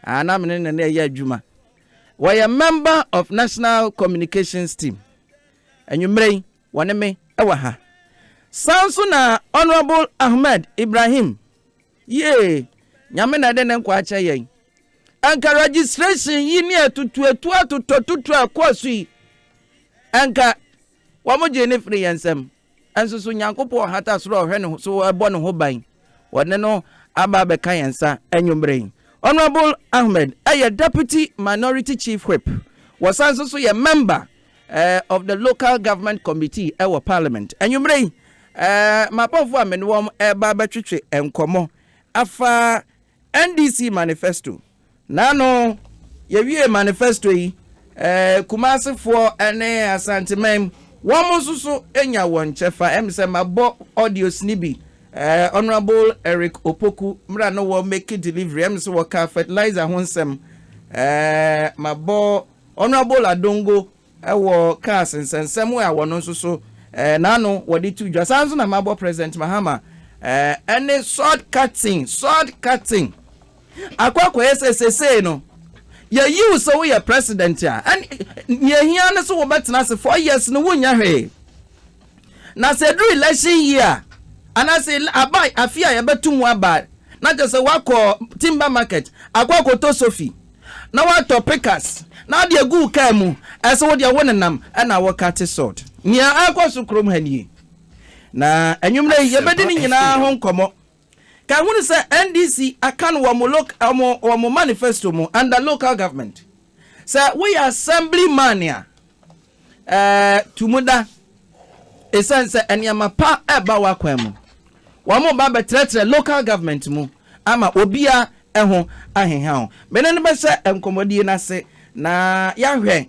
Ah, na me ne no na ɛyɛ adwuma. Wɔyɛ member of National Communications Team. Anwummerɛ yi, wɔne me wɔ ha. Saa nso na Honourable Ahmed Ibrahim. Yee, Nyame na ɛde ne nkwa akyɛ yɛn. Anka registration yi ne atutuatu atotɔtutu a ɛkɔɔ so yi, anka Wɔgyee no firii yɛn nsam. Nso so Nyankopɔn ɔhata soro a ɔhwɛ ne so bɔ ne ho ban? Wɔde no aba abɛka yɛn nsa anwummere yi. Honourable Ahmed yɛ Deputy Minority Chief Whip. Wɔsan nso so yɛ Member of the Local Government Committee wɔ Parliament. Anwummere yi, m'abɔfoɔ a me ne wɔn reba abɛtwetwe nkɔmmɔ afa NDC manifesto, N'ano yɛwiee manifesto yi, Kumasefoɔ ne Asanteman wɔn nso so nya wɔn kyɛfa. Ɛm sɛ mabɔ audios no bi, Honourable Eric Opoku mmerɛ a na wɔ make delivery, ɛm sɛ wɔkaa fertilizer ho nsɛm, mabɔ Honourable Adongo wɔ cars nsɛnsɛm a wɔno nso so n'ano wɔde to dwa. Saa nso na mabɔ President Mahama ne sword cutting, sword cutting. Akɔ akɔyɛ sɛ sesei no yɛyi wo sɛ woyɛ President a, ɛne nea ehia ne so wobɛtena ase four years no wonyɛ hwee. Na sɛ ɛduru election year a, anaasɛ ele aba afe a yɛbɛto mu aba a, na kyerɛ sɛ woakɔ timber market akɔ akɔtɔ sofi, na woatɔ pikas, na wode agu wo kaa mu, ɛsɛ wo deɛ wonenam na wokate salt. Nea ɛrekɔ so kurom ha nie. Na anwummerɛ yi, yɛbɛdi ne nyinaa ho nkɔmmɔ. Ka hunu sɛ NDC aka no wɔ wɔn manifesto mu under local government. Sɛ woyɛ assembly man a, tu mu da ɛsiane sɛ nneɛma pa ɛba w'akwan mu. Wɔreba abɛtrɛtrɛ local government mu ama obiara ho aheha wo. Me ne no bɛhyɛ nkɔmmɔdie no ase na yɛahwɛ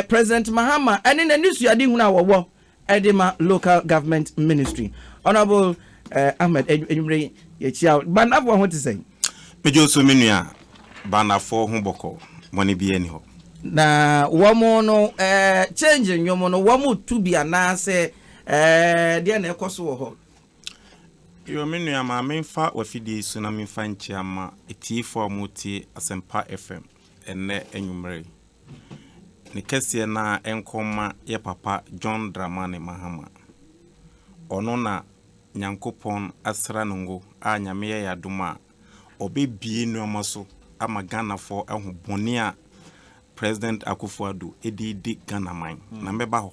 President Mahama ne n'anisuadehunu a wɔwɔ de ma local government ministry honourable eh, ahmed anwummere yi yɛkyia wo bandafoɔ ho te sɛn medwo so me nua bandafoɔ ho bɔkɔ bɔne bi ani hɔ na wɔn no eh, change nnwom no wɔn tu bi anaasɛ eh, deɛ na ɛkɔ so wɔ hɔ yo me nua ma memfa wafidie yi so na memfa nkyia ma atiefoɔ a wɔtie asɛmpa fm ɛnnɛ anwummere Ne kɛseɛ no ara nkɔ mma yɛ papa John Dramani Mahama. Ɔno na Nyankopɔn asra no ngo a Nyame yɛ y'adom a ɔbɛbue nnoɔma so ama Ghanafoɔ ahu bɔne a President Akuffo-Addo ɛde redi Ghanaman. Na mɛba hɔ.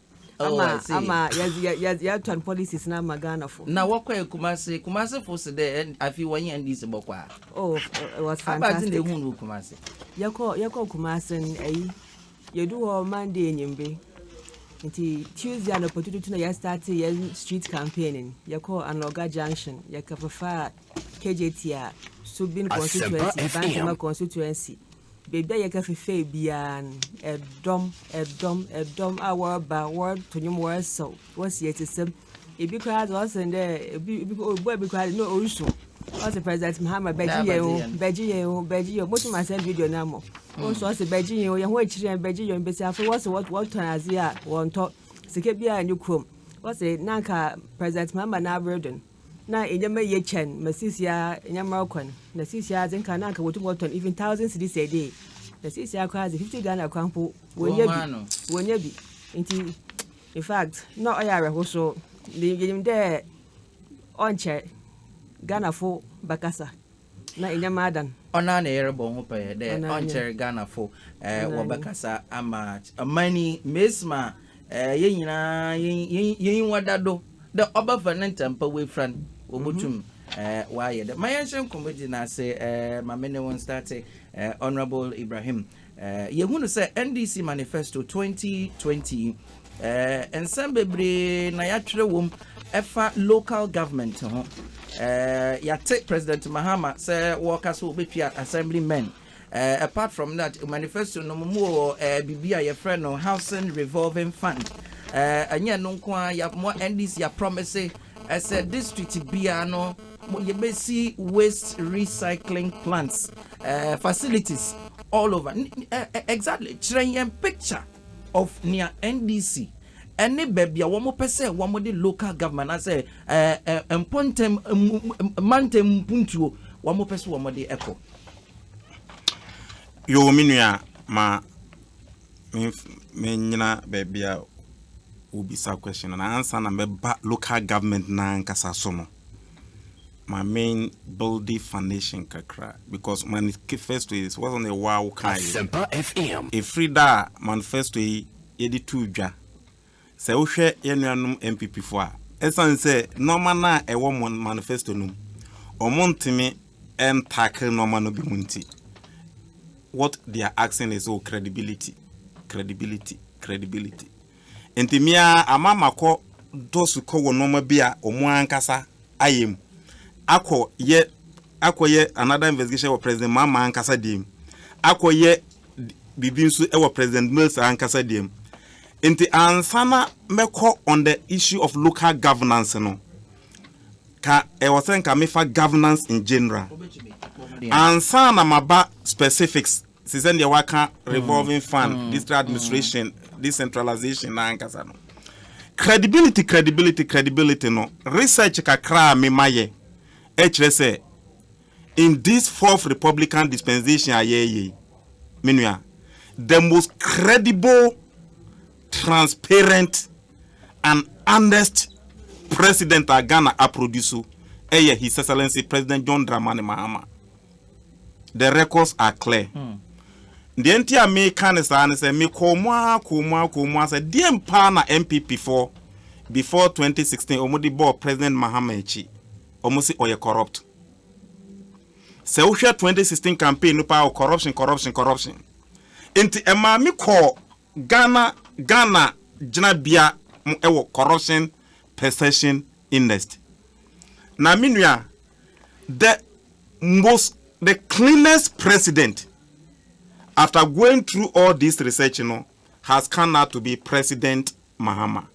Oh, ama I see. ama yɛdze- yɛ- yɛ- yɛtɔn policies no ama ghanafo na wɔkɔɛ kumase kumase fo se dɛ ɛn- afei wɔnye ndc bɔkɔ a oh f- it was abadze na fantastic ehu no wɔ kumase yɛkɔ yɛkɔ kumase n ayi yɛdu hɔ monday enyimbe nti tuesday anɔpa tututu na yɛstarte yɛn street campaign n yɛkɔɔ anɔga junction yɛkɛfefaa kgt a subin Asempa constituency FM. bantama constituency Baabi a yɛka fefɛɛ biara no, ɛdɔm, ɛdɔm, ɛdɔm a wɔreba, wɔroto nnwom, wɔresaw, wɔresi atsesɛm. Bi koraa dze ɔsen dɛ bi bi obuar bi koraa dze na orusu. Ɔse President Mahama bɛgye yɛn o, bɛgye yɛn o, bɛgye yɛn o. Motum asɛn video no ama wo. Ɔse ɔse bɛgye yɛn o, hɛn ho ekyir hɛn, bɛgye yɛn o. Mbasiafo yi wɔse wɔtɔn adze a wɔnntɔ sika biara nnyi kurom. Wɔse na anka President Mahama n'aber do no, na nneɛma ye kyɛn ma seesei a nneɛma rekɔ no, na seesei ara dze nka na anka wotum wɔtɔn even thousand cedis a day, na seesei ara koraa dze fifty Ghana koraa mpo wonnya bi, wonnya bi. Ntsi in fact nna ɔyɛ awerɛhosow. Yɛ yɛnyim dɛ ɔnnkyɛr Ghanafo bɛkasa Na enya m'adan. Ɔnoara na yɛrobɔ ho pɛɛ dɛ ɔnnkyɛr Ghanafo wɔbɛkasa ama ɔman yi. Mesi ma hɛn nyina yenyiwa da do dɛ ɔbɛfa ne ntampã woefura no, wobotum wɔayɛ dɛm. Ma yɛnhyɛ nkɔmbɔdzi no ase. Ma me nye wo nstarte, Honourable Ibrahim Yɛhu no sɛ NDC Manifesto 2020 yi, nsɛm bebree na yɛatwerɛ wom ɛfa local government ho. Yɛate President Mahama sɛ wɔka sɛ wɔbɛtua assembly men. Apart from that, manifesto no mu wɔ biribi a yɛfrɛ no Housing Revolving Fund. Ɛnyɛ no nko a, yɛ mo NDC yɛ promise Ɛsɛ district biara no yɛbɛsi waste recycling plants, uh, facilities all over. Exactly, kyerɛ yɛn picture of nea NDC ɛne baabi a wɔn pɛ sɛ wɔn de local government asɛ ɛɛ mpɔntɛm mantɛm mpuntuo wɔn pɛ sɛ wɔn de ɛkɔ. Yoo, me nua ma. menyina baabi a wobisa question no ansa na mɛba local government no ankasa so no ma me building foundation kakra because manifesto is wasn't a wow kae ɛfiri da a manifesto yi yɛde to dwa Sɛ wohwɛ yɛn nuanom NPP fo a, esiane sɛ nnoɔma no a ɛwɔ wɔn manifesto no mu, wɔntumi ntackle nnoɔma no binom nti, what they are asking is, oh, credibility, credibility, credibility. Nti me ara ama makɔ dɔ sukɔ wɔ nnoɔma bi a wɔn ankasa ayɛ mu, akɔ yɛ akɔ yɛ another investigation wɔ President Mahama ankasa deɛ mu, akɔ yɛ biribi nso wɔ President Mills ankasa deɛ mu. Nti ansa na mɛkɔ on the issue of local governance no, ka ɛwɔ sɛ nka mefa governance in general. Ansa na maba specifics, te sɛ deɛ waka revolving fund, mm. district administration, mm. decentralization na ankasa no. Credibility, credibility, credibility no, research kakra a mema yɛ, ɛkyerɛ sɛ In this fourth republican dispensation a yɛreyɛ yi, me nua, the most credible, transparent and honest president a Ghana aproduce ɛyɛ His Excellency President John Dramani Mahama. The records are clear. Hmm. deɛ nti a meka ne saa ne sɛ mekɔɔ mu ara kɔɔ mu ara kɔɔ mu ara sɛ deɛ mpaa na npp foɔ before 2016 wɔn de bɔɔ president mahama akyi wɔn si ɔyɛ corrupt Sɛ wo hwɛ twenty sixteen campaign no paa o corruption corruption corruption nti ɛmaa me kɔɔ Ghana Ghana gyinabea mo ɛwɔ corruption perception indest na me nua the most the cleanest president after going through all this research no has come out to be president Mahama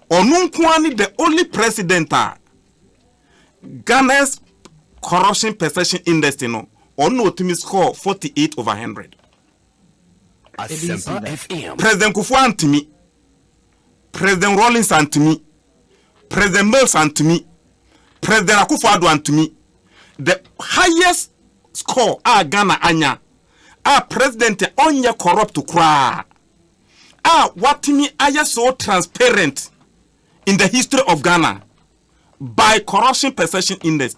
Ɔno nko ara ne the only president a Ghana's corruption perception index no ɔno na ɔtumi score forty eight over hundred. President Kufuor antumi, President Rawlings antumi, President Mills antumi, President Akufo-Addo antumi. The highest score a Ghana anya a president a ɔnyɛ corrupt koraa a watumi ayɛ so transparent in the history of Ghana by Corruption Perception Index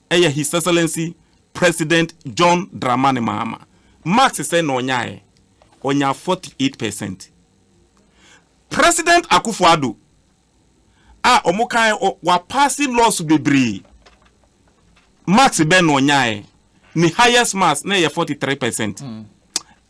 ɛyɛ His Excellency President John Dramani Mahama. Marks sɛ na ɔnyaeɛ, ɔnya 48 percent. President Akufo-Addo a wɔn kan wapaase laws bebree, marks bɛn na ɔnyaeɛ? Ne highest marks na ɛyɛ 43 percent. Mm.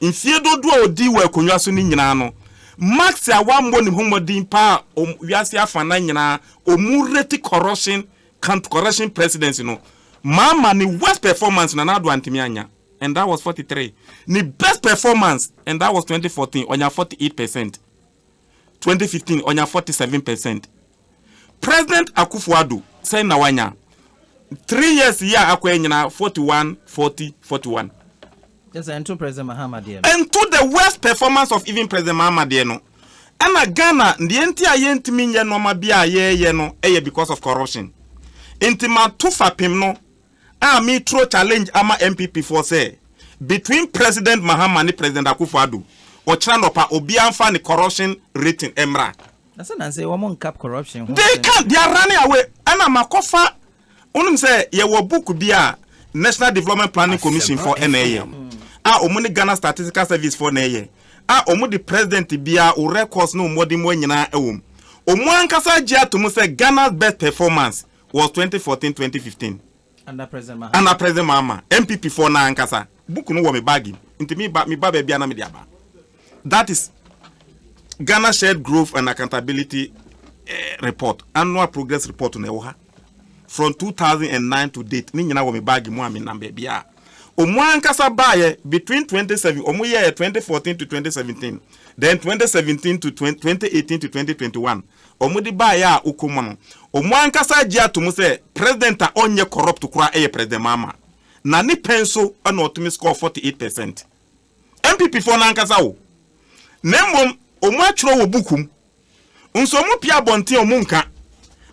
Mfeɛ dodoɔ a ɔdii wɔ akonnwa so no nyinaa no, Marx a wammɔ ne ho mmɔden paa a wɔn wiase afanan nyinaa wɔn reti corruption count corruption presidency no ma ama ne worst performance na Nadu antumi annya and that was forty three ne best performance and that was twenty fourteen ɔnya forty eight percent. twenty fifteen ɔnya forty seven percent president akufo ado sɛn na wanya three years yi a akɔ nyina forty one forty forty one. Yes, ɛnto president mahama deɛ no. ɛnto the worst performance of even president mahama deɛ no ɛna ghana deɛ nti a yɛntumi nyɛ nneɛma bi a yɛyɛ no ɛyɛ because of corruption nti ma to fapem no. a me turo challenge ama NPP foɔ sɛ between President Mahama ne President Akuffo Addo ɔkyena nɔpa obiara nfa ne corruption rating mmra. Na sɛ nanse wɔn nka corruption ho asɛm bio. They can't, they are running away. Ɛna makɔ fa, wonim sɛ yɛwɔ book bi a National Development Planning Commission foɔ ɛna ɛyɛ a wɔn ne Ghana Statistical Service foɔ na ɛyɛ a wɔn de President biara wo records ne wo mmɔdemmoa nyinaa ɛwɔ mu. Wɔn ankasa gye ato mu sɛ Ghana's best performance was twenty fourteen twenty fifteen Under President Mahama. Under President Mahama, NPP foɔ no ankasa. Book no wɔ me bag mu, nti me ba me ba baabi a na me de aba. That is Ghana Shared Growth and Accountability eh, Report, Annual Progress Report na ɛwɔ ha. From two thousand and nine to date, ne nyinaa wɔ me bag mu a me nam baabi a. Ɔmo ankasa baayɛ between twenty seven, ɔmo yɛɛ twenty fourteen to twenty seventeen, then twenty seventeen to twenty eighteen to twenty twenty one. wɔde baeɛ a wokɔ mu no, wɔn ankasa agye ato mu sɛ president a ɔnyɛ corrupt koraa yɛ President Mahama. Na ne pɛ nso na ɔtumi score 48 percent. NPP foɔ no ankasa o. Na mmom wɔn atwerɛ wɔ book mu. Nso wɔn pie abɔnten a wɔn nka.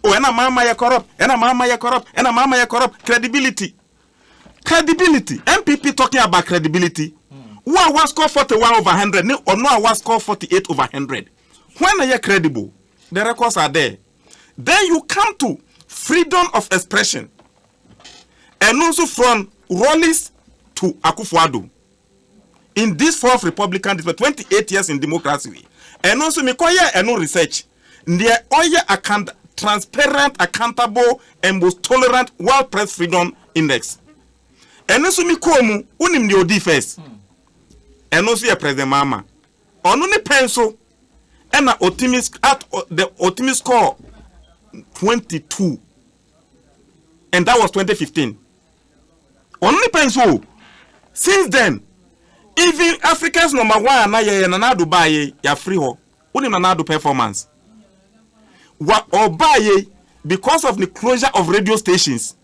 O ɛna Mahama yɛ corrupt, ɛna Mahama yɛ corrupt, ɛna Mahama yɛ corrupt. Credibility. Credibility. NPP talking about credibility. Wo a wa score 41 over 100 ne ɔno a wa score 48 over 100. Hwan na yɛ credible? The records are there. Then you come to freedom of expression. Ɛno nso from Rawlings to Akufo-Addo. In this fourth Republican district, 28 years in democracy way. Ɛno nso mekɔyɛɛ ɛno research. Deɛ ɔyɛ account, transparent, accountable and most tolerant World Press Freedom Index. Ɛno nso mekɔɔ mu, wonim deɛ ɔdii first? Ɛno nso yɛ President Mahama. Ɔno ne pɛn so na otumi at the otumi score twenty two and that was twenty fifteen ɔno ne pɛn so o since then even Africans number one a na yɛyɛ Nana Addo baa yɛ yɛafiri hɔ wonim Nana Addo performance wa ɔbaa yɛ because of the closure of radio stations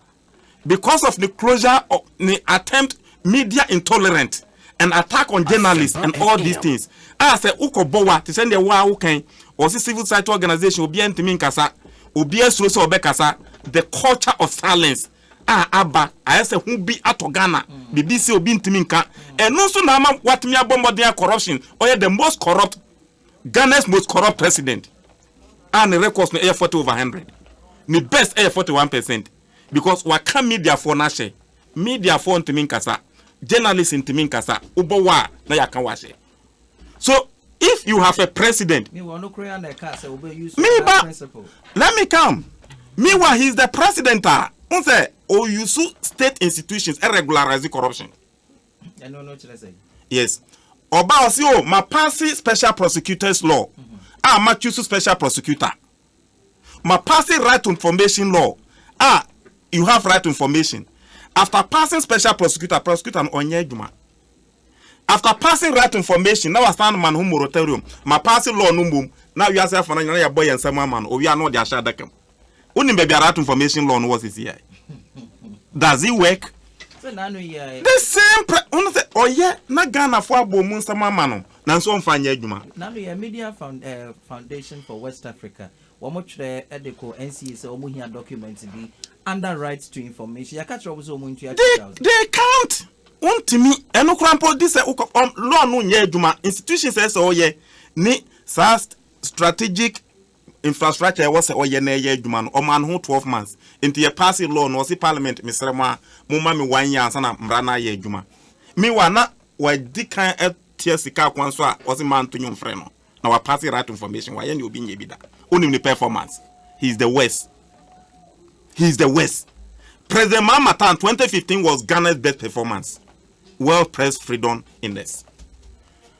because of ne closure of ne attempt media intolerant and attack on journalists and all these things a ah, sɛ wokɔ bɔ wa te sɛ deɛ waa wokan ɔsi civil society organization obiara ntumi nkasa obiara suro sɛ ɔbɛkasa the culture of silence a ah, aba ayɛ sɛ ho bi atɔ ghana mm. biribi sɛ obi ntumi nka ɛno nso na ama watumi abɔ mmɔden a corruption ɔyɛ the most corrupt Ghana's most corrupt president a ne records no yɛ forty over hundred. Ne best yɛ forty one percent because waka media foɔ no ahyɛ. Media foɔ ntumi nkasa, journalist ntumi nkasa, wobɔ wɔ a na yɛaka wo ahyɛ. So if you have a president, meba, let me come. Meanwhile, he is the president a, n sɛ, ɔyusu state institutions regularize corruption. ɛno no kyerɛ sɛ yes ɔba ɔsi o oh, ma paase special prosecutors law mm-hmm. a ah, ma choose special prosecutor ma paase right to information law a ah, you have right to information after passing special prosecutor prosecutor no ɔnyɛ adwuma after passing right information na wasan ma no ho moratorium ma paase law no mmom na wiase afɔ no nyina yɛbɔ yɛn nsɛm ama no owia na ɔde ahyɛ adaka mu Wonim baabi a that information law no wɔ sisi a? Does it work? The same pre wono sɛ ɔyɛ na Ghanafoɔ abɔ mu nsɛm ama no nanso ɔmfa nyɛ adwuma. Nano yɛ Media Foundation for West Africa. Wɔtwerɛ de kɔɔ NCA sɛ wɔhia document bi under right to information. Yɛaka kyerɛ wɔn sɛ wɔntua two thousand. They they can't. Wontumi ɛno koraa mpo di sɛ wokɔ law no nyɛ adwuma institutions ɛsɛ ɔyɛ ne saa strategic infrastructure a ɛwɔ sɛ ɔyɛ na ɛyɛ adwuma no ɔmaa no ho twelve months nti yɛ paase law no ɔse parliament mesrɛ mo a mo ma me one year ansa na mmara no ayɛ adwuma meanwhile na wadi kan atua sika akwan so a ɔse ma nto nwom frɛ no na wa paase right information wayɛ ne obi nyɛ bi da onim ne performance he is the worst he is the worst President Mahama Tan 2015 was Ghana's best performance World Press Freedom Index.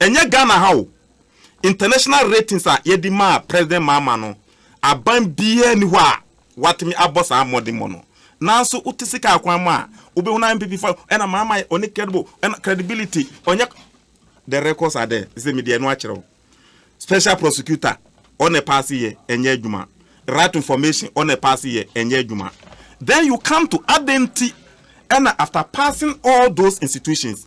Ɛnyɛ Ghana ha o, international ratings a yɛde maa President Mahama no, aban biara nni hɔ a watumi abɔ saa mmɔdemmɔ no. Nanso wote sika akwan mu a, wobɛhunu ara NPP fo a, ɛna Mahama yɛ, ɔnni credible, ɛna credibility, ɔnyɛ The records are there, sɛ mede ɛno akyerɛ wo. Special prosecutor, ɔna ɛpaase yɛ, ɛnyɛ adwuma. Right to information, ɔna ɛpaase yɛ, ɛnyɛ adwuma. Then you come to adɛn nti ɛna after passing all those institutions,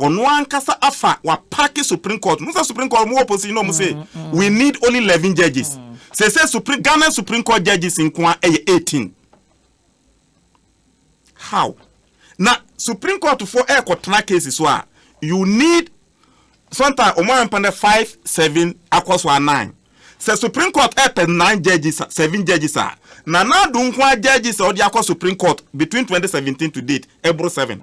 Ɔno ankasa afa wapake supreme court mu. Sɛ supreme court ɔmo wɔ position ɔmo se we need only eleven judges. Sese supreme Ghana supreme court judges nkoa ɛyɛ eighteen. How? Na supreme court fo ɛkɔ tena case so a you need sometimes ɔmo ayɛ mpɛn dɛ five seven akɔ so a nine. Sɛ supreme court ɛpɛ nine judges seven judges a Nana Addo nkoa judges a ɔde akɔ supreme court between twenty seventeen to date ɛboro seven.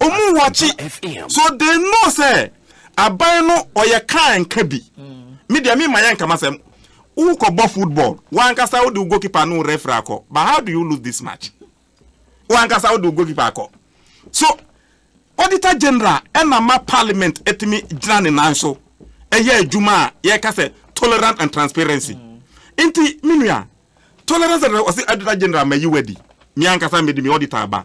Ɔmu wɔkye so they know sɛ aban no ɔyɛ kaa nka bi. Me deɛ me ma yɛ nka masɛm. Wokɔ bɔ football wankasa wode wo goalkeeper no referee akɔ but how do you lose this match? Wankasa wode wo goalkeeper akɔ so auditor general ɛna ma parliament ɛtumi gyina ne nan so ɛyɛ adwuma a yɛka sɛ tolerant and transparency. Nti me nua tolerance and ɔsi auditor general ma yi wadi me ankasa mede me auditor aba.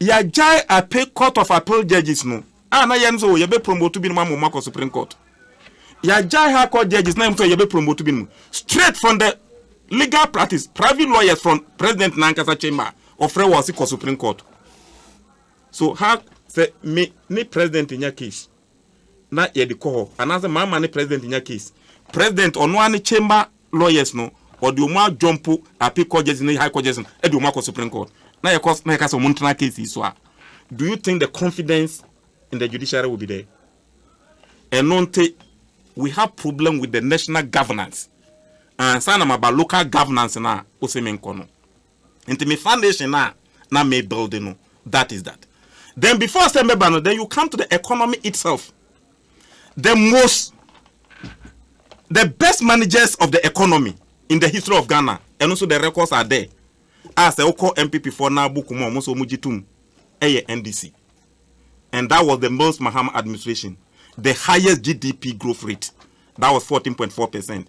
Yɛagyae ape Court of Appeal judges no a na yɛnom sɛ o yɛbɛ promote binom ama wɔn akɔ Supreme Court. Yɛagyae High Court judges na yɛnom sɛ yɛbɛ promote binom straight from the legal practice, private lawyers from President n'ankasa chamber a ɔfrɛ wɔ ɔse kɔ Supreme Court. So how sɛ me ne President nya case na yɛde kɔ hɔ anaasɛ mama ne president nya case. President ɔno ara ne chamber lawyers no ɔde wɔn adwɔmpo appeal court judges ne high court judges no de wɔn akɔ supreme court na yɛkɔ na yɛka sɛ wɔn ntena case yi so a do you think the confidence in the judiciary will be there? Ɛno nti we have problem with the national governance ansa na maba local governance na ɔsɛ menkɔ no. Nti me foundation no a na me build no that is that. Then before sɛ mɛba no then you come to the economy itself. The most the best managers of the economy in the history of Ghana ɛno nso the records are there a sɛ wokɔ NPP foɔ na book mu a wɔn nso wɔn gye tom ɛyɛ NDC and that was the Mills Mahama administration the highest GDP growth rate that was 14.4 percent.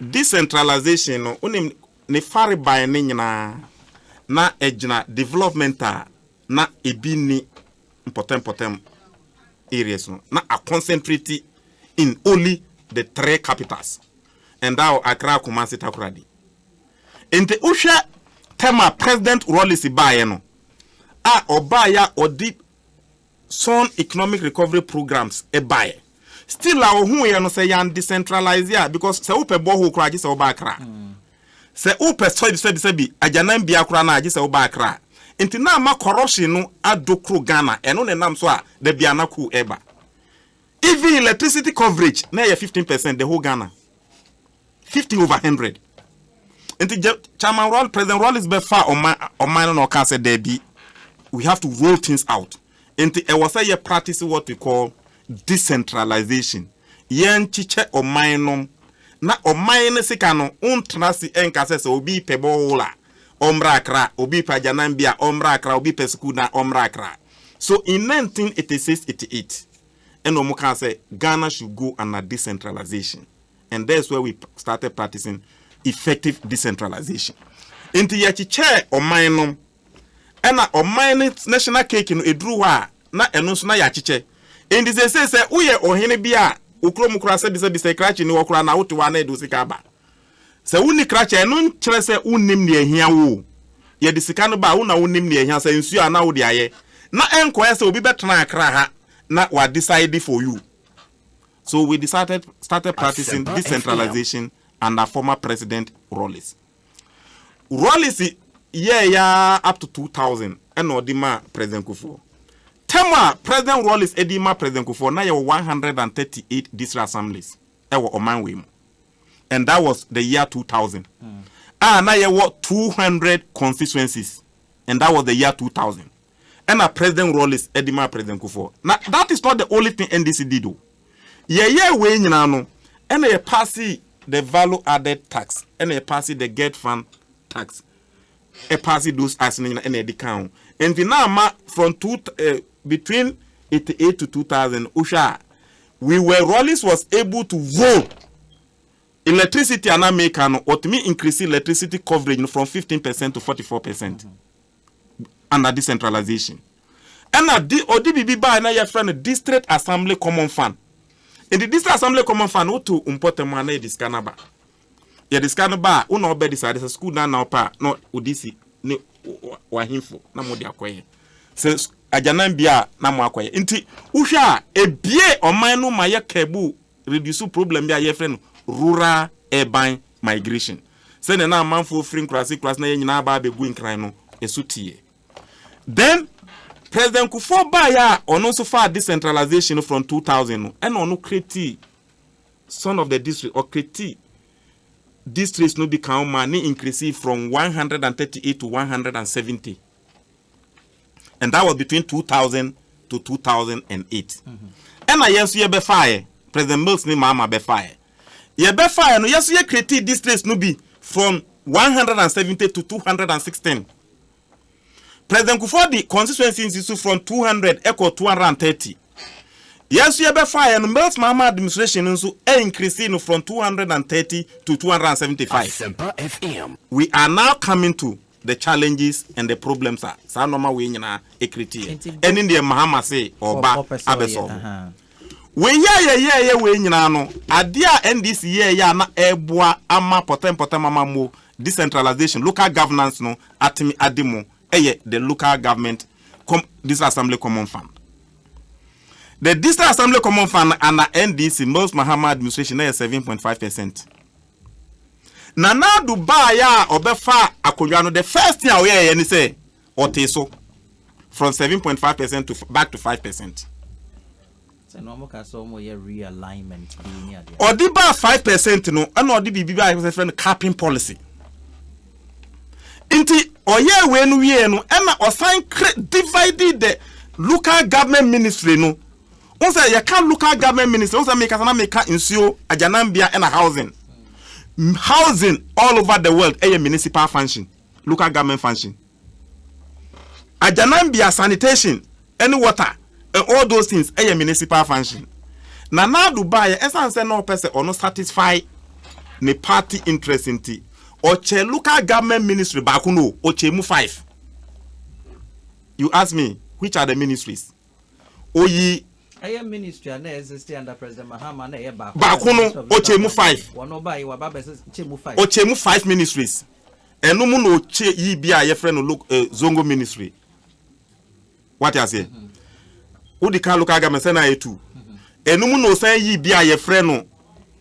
Decentralization no, wonim ne farebae no nyinaa, na ɛgyina development a na ebi nni mpɔtam-mpɔtam areas no, na a concentrate in only the three capitals, Ndao, Accra, Kumasi, Takoradi. Nti wohwɛ term a President Rawlings baeɛ no, a ɔbaeɛ a ɔde Son economic recovery programs bae. Still a ohuuɛ no sɛ yɛn decentralise a because sɛ wopɛ borehole koraa gye sɛ woba Accra. Sɛ wopɛ sɛbi sɛbi sɛbi agyananbea koraa no a gye sɛ woba Accra. Nti na ama corruption no adokro Ghana ɛno na ɛnam so a dabi a na coup ɛba. Even electricity coverage na ɛyɛ fifteen percent the whole Ghana. fifty over hundred nti jɛ chairman rɔl president rɔlis bɛ fa ɔman ɔman no na ɔka sɛ dɛbi we have to roll things out nti ɛwɔ sɛ yɛ practice what we call decentralization yɛn kyekyɛ ɔman nom na ɔman no sika no ntena si ɛnka sɛ sɛ obi pɛ bɔɔl a ɔmmra akra obi pɛ agyanan bi a ɔmmra akra obi pɛ sukuu na ɔmmra akra so in 1986 88 ɛna wɔn kan sɛ ghana should go under decentralization. and that is where we started practicing effective decentralization nti yɛkyekyɛɛ ɔman no ɛna ɔman no national cake no ɛduru hɔ a na ɛno nso na yɛakyekyɛ nti sɛsei sɛ woyɛ ɔhene bi a wo kurom koraa sɛbisɛbi sɛ krakye ni hɔ koraa na wote hɔ a na ɛde wo sika aba sɛ wonni krakye a ɛno nkyerɛ sɛ wonnim deɛ ahia wo o yɛde sika no ba wo na wonim deɛ ahia sɛ nsuo a na wode ayɛ na ɛnkɔyɛ sɛ obi bɛtena akra ha na wadecide for you So we decided started practicing decentralization under former president Rawlings. Rawlings yɛɛ yɛ ara up to 2000 ɛna ɔde maa President Kufuor. Term a President Rawlings ɛde ma President Kufuor na yɛwɔ 138 district assemblies ɛwɔ ɔman wei mu. And that was the year 2000. Mm. A na yɛwɔ 200 constituencies and that was the year 2000. ɛna President Rawlings de maa President Kufuor. Na that is not the only thing NDC did o. Yɛyɛɛ wei nyinaa no, ɛna yɛ paase the value added tax, ɛna yɛ paase the get fund tax, ɛpaase those acts no nyinaa ɛna yɛde kaa ho. Nti na ama from two, uh, between 88 to 2000, wohwɛ a, we were, Rawlings was able to vote electricity ana meka no ɔtumi increase electricity coverage no from 15 percent to 44 percent under decentralization. Ɛna de ɔde biribi baeɛ na yɛfrɛ no district assembly common fund. Nti district assembly common fund woto mpɔtam a na yɛde sika no aba. Yɛde sika no ba a wo na ɔbɛ decide sɛ sukuu dan na ɔpɛ a na ɔde si ne wahemfo na mo de akɔyɛ. Sɛ agyanan bia na mo akɔyɛ. Nti wohwɛ a ebie ɔman no ma yɛ kɛbu reduce problem bi a yɛfrɛ no rural urban Migration. Sɛnea na amanfoɔ firi nkuraase nkuraase na yɛn nyinaa aba abɛgu nkran no, ɛso teɛ. Then, President Kufuor baeɛ a ɔno nso faa decentralization no from 2000 no, ɛna ɔno creatii Son of the District, ɔcreatii districts no bi kan maa ne increasee from 138 to 170. and that was between 2000 to 2008 ɛna yɛn nso yɛbɛfaeɛ president mills ne maama bɛfaeɛ yɛbɛfaeɛ no yɛn nso yɛ create districts no bi from 170 to 216 president kufuor de constituency nsi so from 200 ɛkɔ 230 yɛn nso yɛbɛfaeɛ no mills maama administration nso ɛ increase no from 230 to 275 we are now coming to The challenges and the problems a saa nnoɔma wei nyinaa ɛcreate yɛ, ɛne deɛ Mahama se ɔba abɛsɔlve. Wei a yɛyɛɛyɛ wei nyinaa no, adeɛ a NDC yɛɛyɛ a na ɛɛboa ama pɔtɛmpɔtɛm amammuo, decentralization, local governance no atumi adi mu yɛ the Local Government Com, District Assembly Common Fund. The District Assembly Common Fund no under NDC, Moses Mahama administration, na ɛyɛ seven point five percent Nana Addo baeɛ a ɔbɛfaa akonnwa no, the first thing a ɔyɛeɛ ne sɛ ɔtee so from seven point five percent to back to five percent. ɔde baa five percent no ɛna ɔde biribi baa ɛsɛ fɛ no capping policy nti ɔyɛ wei no wie no ɛna ɔsan kre divide the local government ministry no Wohu sɛ yɛka local government ministry, wohu sɛ mekasa na meka nsuo, agyananbea ɛna housing. Housing all over the world ɛyɛ municipal function, local government function. Agyananbea, sanitation, ɛne water, and all those things ɛyɛ municipal function. Na Nado baayɛ ɛsan sɛ na ɔpɛ sɛ ɔno satisfy ne party interest nti, ɔkyɛ local government ministry baako no, ɔkyɛ mu five. You ask me, which are the ministries? oyi. Ɛyɛ ministry a na existe under President Mahama na ɛyɛ baako. Baako no ɔkyɛ mu five. Wɔn ɔba yi waba bɛsɛ kyɛ mu five. Ɔkyɛ mu five ministries. Ɛno mu na ɔkyɛ yi bi a yɛfrɛ no lo eh, zongo ministry. Wate aseɛ? Mm -hmm. Wodi ka local government sɛ na ayɛ two. Mm -hmm. Ɛno mu na ɔsan yi bi a yɛfrɛ no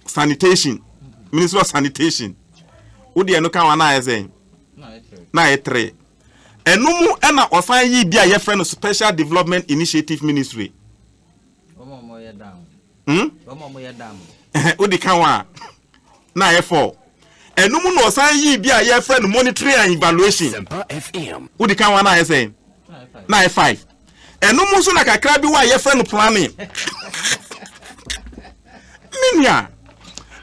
sanitation. Mm -hmm. Ministry of sanitation. Wodi ɛno ka wɔn na ayɛ sɛn? Na ayɛ three. Ɛno mu na wɔsan yii bi a wɔfrɛ no Special Development Initiative Ministry. Wɔn a wɔyɛ dam. Hmm? Wɔn a wɔyɛ dam. Wodi kan wa na ayɛ fɔɔ. Ɛno mu na wɔsan yii bi a wɔfrɛ no Monitoring and Evaluation. Sempa FM. Wodi kan wa na ayɛ sɛn? Na ayɛ five. Ɛno mu nso na kakra bi wa a wɔfrɛ no Planning. Minia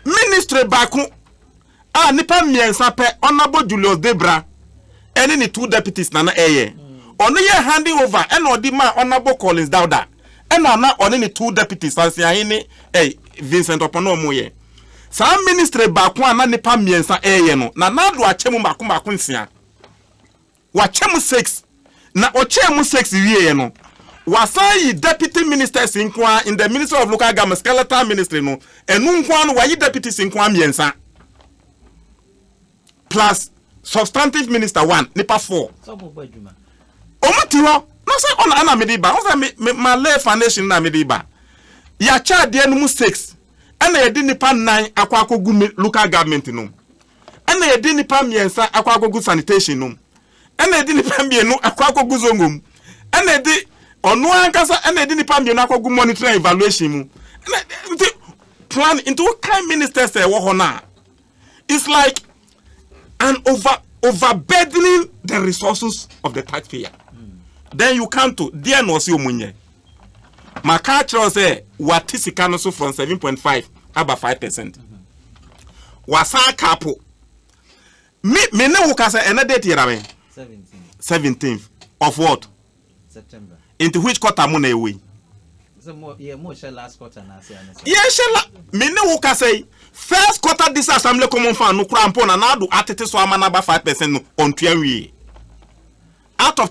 ministry baako a nnipa mmiɛnsa pɛ, Honourable Julius Debra ne ne two deputies na na ɛyɛ. Ɔno yɛɛ handing over ɛna ɔde maa Honourable Collins Dauda ɛna na ɔne ne two deputies Sansiahe ne eh, Vincent Ɔpɔ na wɔn yɛ. Saa ministry baako a na nnipa mmiɛnsa ɛyɛ no, Nana Addo akyɛ mu mmaako mmaako nsia. Wakyɛ mo sex. Na ɔkyɛɛ mo sex wieɛ no, wasan ayi deputy ministers nko ara in the ministry of local government, skeletal ministry no, ɛno nko ara no wayi deputies nko ara mmiɛnsa plus substantive minister one, nipa four. Wɔn ti hɔ na sɛ ɔna ɛna mede ba, ɔsɛ me me ma lay foundation na mede ba. Yɛakyɛ adeɛ no mu sex ɛna yɛde nipa nnan akɔ akɔgu mi local government no. ɛna yɛde nipa mmiɛnsa akɔ akɔgu sanitation nom ɛna yɛde nipa mmienu akɔ akɔgu zongo mu ɛna yɛde ɔno ankasa ɛna yɛde nipa mmienu akɔgu monitoring evaluation mu ɛna nti plan nti wokan ministers ɛwɔ hɔ no a it's like an over overburdening the resources of the taxpayer mm. then you come to deɛ na ɔsi ɔmo nyɛ. Maka akyerɛ wo sɛ wate sika no so from 7.5 aba 5 percent. Wasan aka apo. Me me ne wo kasa ɛnɛ date yɛda me. 17th of what? September. Into which quarter mo na ɛwɔ yi? yɛhyɛ la me ne wo kasa yi first quarter this assembly common fund no kora mpo na naado atete so ama no aba 5 percent no ɔntua nwie out of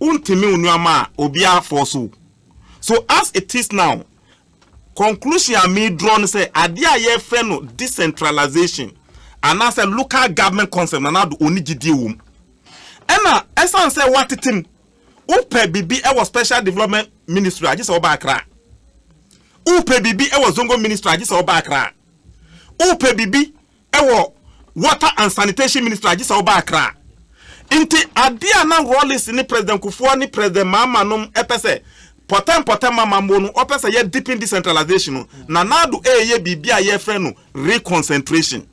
Wontumi onuama a obiara fɔɔ so. So as it is now, conclusion a me draw ne sɛ adeɛ a yɛfrɛ no decentralization anaasɛ local government concept Nana Addo ɔnni gyidie wɔ mu. Ɛna ɛsan sɛ watete mu, wopɛ biribi ɛwɔ special development ministry a gye sɛ woba Accra. Wopɛ biribi ɛwɔ zongo ministry a gye sɛ woba Accra. Wopɛ biribi wɔ Water and Sanitation Ministry agye sɛ woba Accra. Nti adeɛ a na Rawlings ne President Kufuor ne President Mahama nom pɛ sɛ pɔtɛ mpɔtɛ ma mambo no, wɔpɛ sɛ yɛ deepen decentralization no. Nana Addo reyɛ biribi a yɛfrɛ no reconcentration.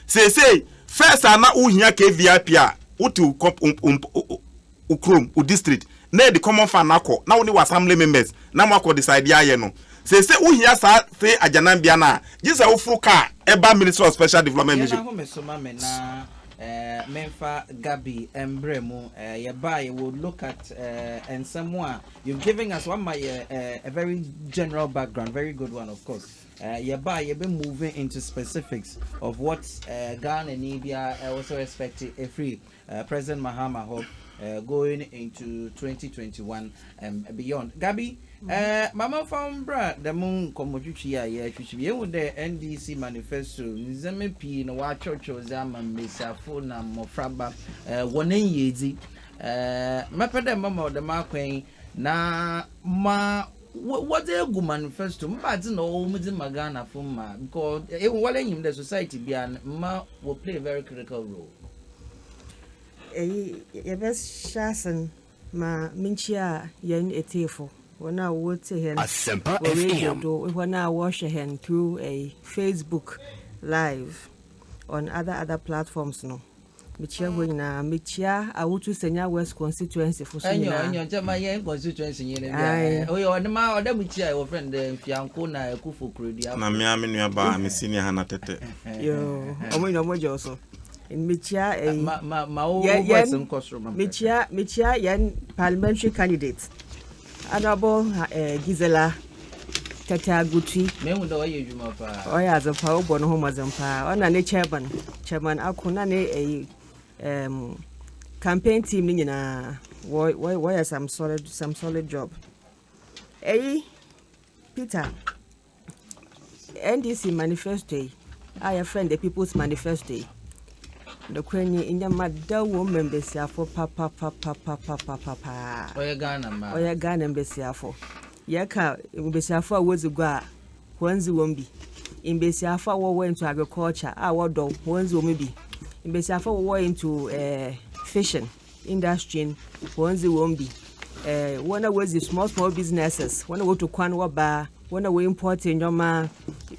Seesei first a na wohia KVIP a, wote wo wo kurom, wo district, na ɛde common fund no akɔ na wo ne wo assembly members na mo akɔ decide ayɛ no. Seesei wo hia saa fee agyananbea no a, gye sɛ wo foro car ɛba Ministry of Special Development Mission. Yɛn ahomeso ma me na eh, menfa Gabi mbrɛ mu eh, yɛbaa yɛ will look at eh, nsɛm a you've given us wama yɛ eh, a very general background very good one of course eh, yɛbaa yɛbɛ moving into specifics of what eh, Ghana ni biara ɛwɔ eh, so respect ɛfiri President Mahama hɔ going into twenty twenty one and beyond. Gabi, ma momfa wo mbra dɛm nkɔmmɔtwitwi yi a yɛretwitwi bi. Yɛhu dɛ NDC manifesto ndzɛmba pii na wɔakyerɛkyerɛw dze ama mbasiafo na mbofraba hɔn enyiedzi. Mɛpɛ dɛ mɛma wo dɛm akwan yi na ma wɔdze egu manifesto mu. Ebɛnadze na ɔwɔ mu dze ma Ghanafo ma? Because ehu woara nyim dɛ society biara no, mma wɔ play very critical role. Eyi yɛbɛhyɛ ase no, ma minkyia hɛn etsiefo, hɔn a wotsie hɛn wɔ radio do, hɔn a wɔhwɛ hɛn through Facebook live on other other platforms no. Mikyia hɔn nyina, mikyia Awutu Senya West constituency fo so nyina. Na me ara me nuabaa, me senior Hannah Tetteh. Yoo, wɔn nyinaa wɔn gye wo so. Mekyia ɛyi. Ma ma ma wo wo voice nkɔ soro ma me. Mekyia mekyia yɛn parliamentary candidate honourable eh, Gisela Tete Agutwi. Mehu dɛ ɔyɛ adwuma paa. Ɔyɛ adze paa ɔbɔ ne ho mmɔdzen paa ɔna ne chairman chairman ako na ne ɛyi um, campaign team ne nyinaa wɔyɛ some solid some solid job. Ɛyi Peter. NDC manifesto yi a yɛfrɛ no the people's manifesto yi, nokorɛ nie, nneɛma da wɔ mu ma mbasiafo papapapapapapapaa. Ɔyɛ Ghana mmaa. Ɔyɛ Ghana mbasiafo. Yɛka mbasiafo a wɔdzi gua a, wɔn dzi wɔn bi. Mbasiafo a wɔwɔ into agriculture a wɔdɔ wɔn dzi wɔn bi. Mbasiafo a wɔwɔ into eh, fishing. industry no wɔn dze wɔn bi, eh, wɔn a wɔdzi small small businesses, wɔn a wɔtu kwan wɔ baa, wɔn a wɔ import nneɛma,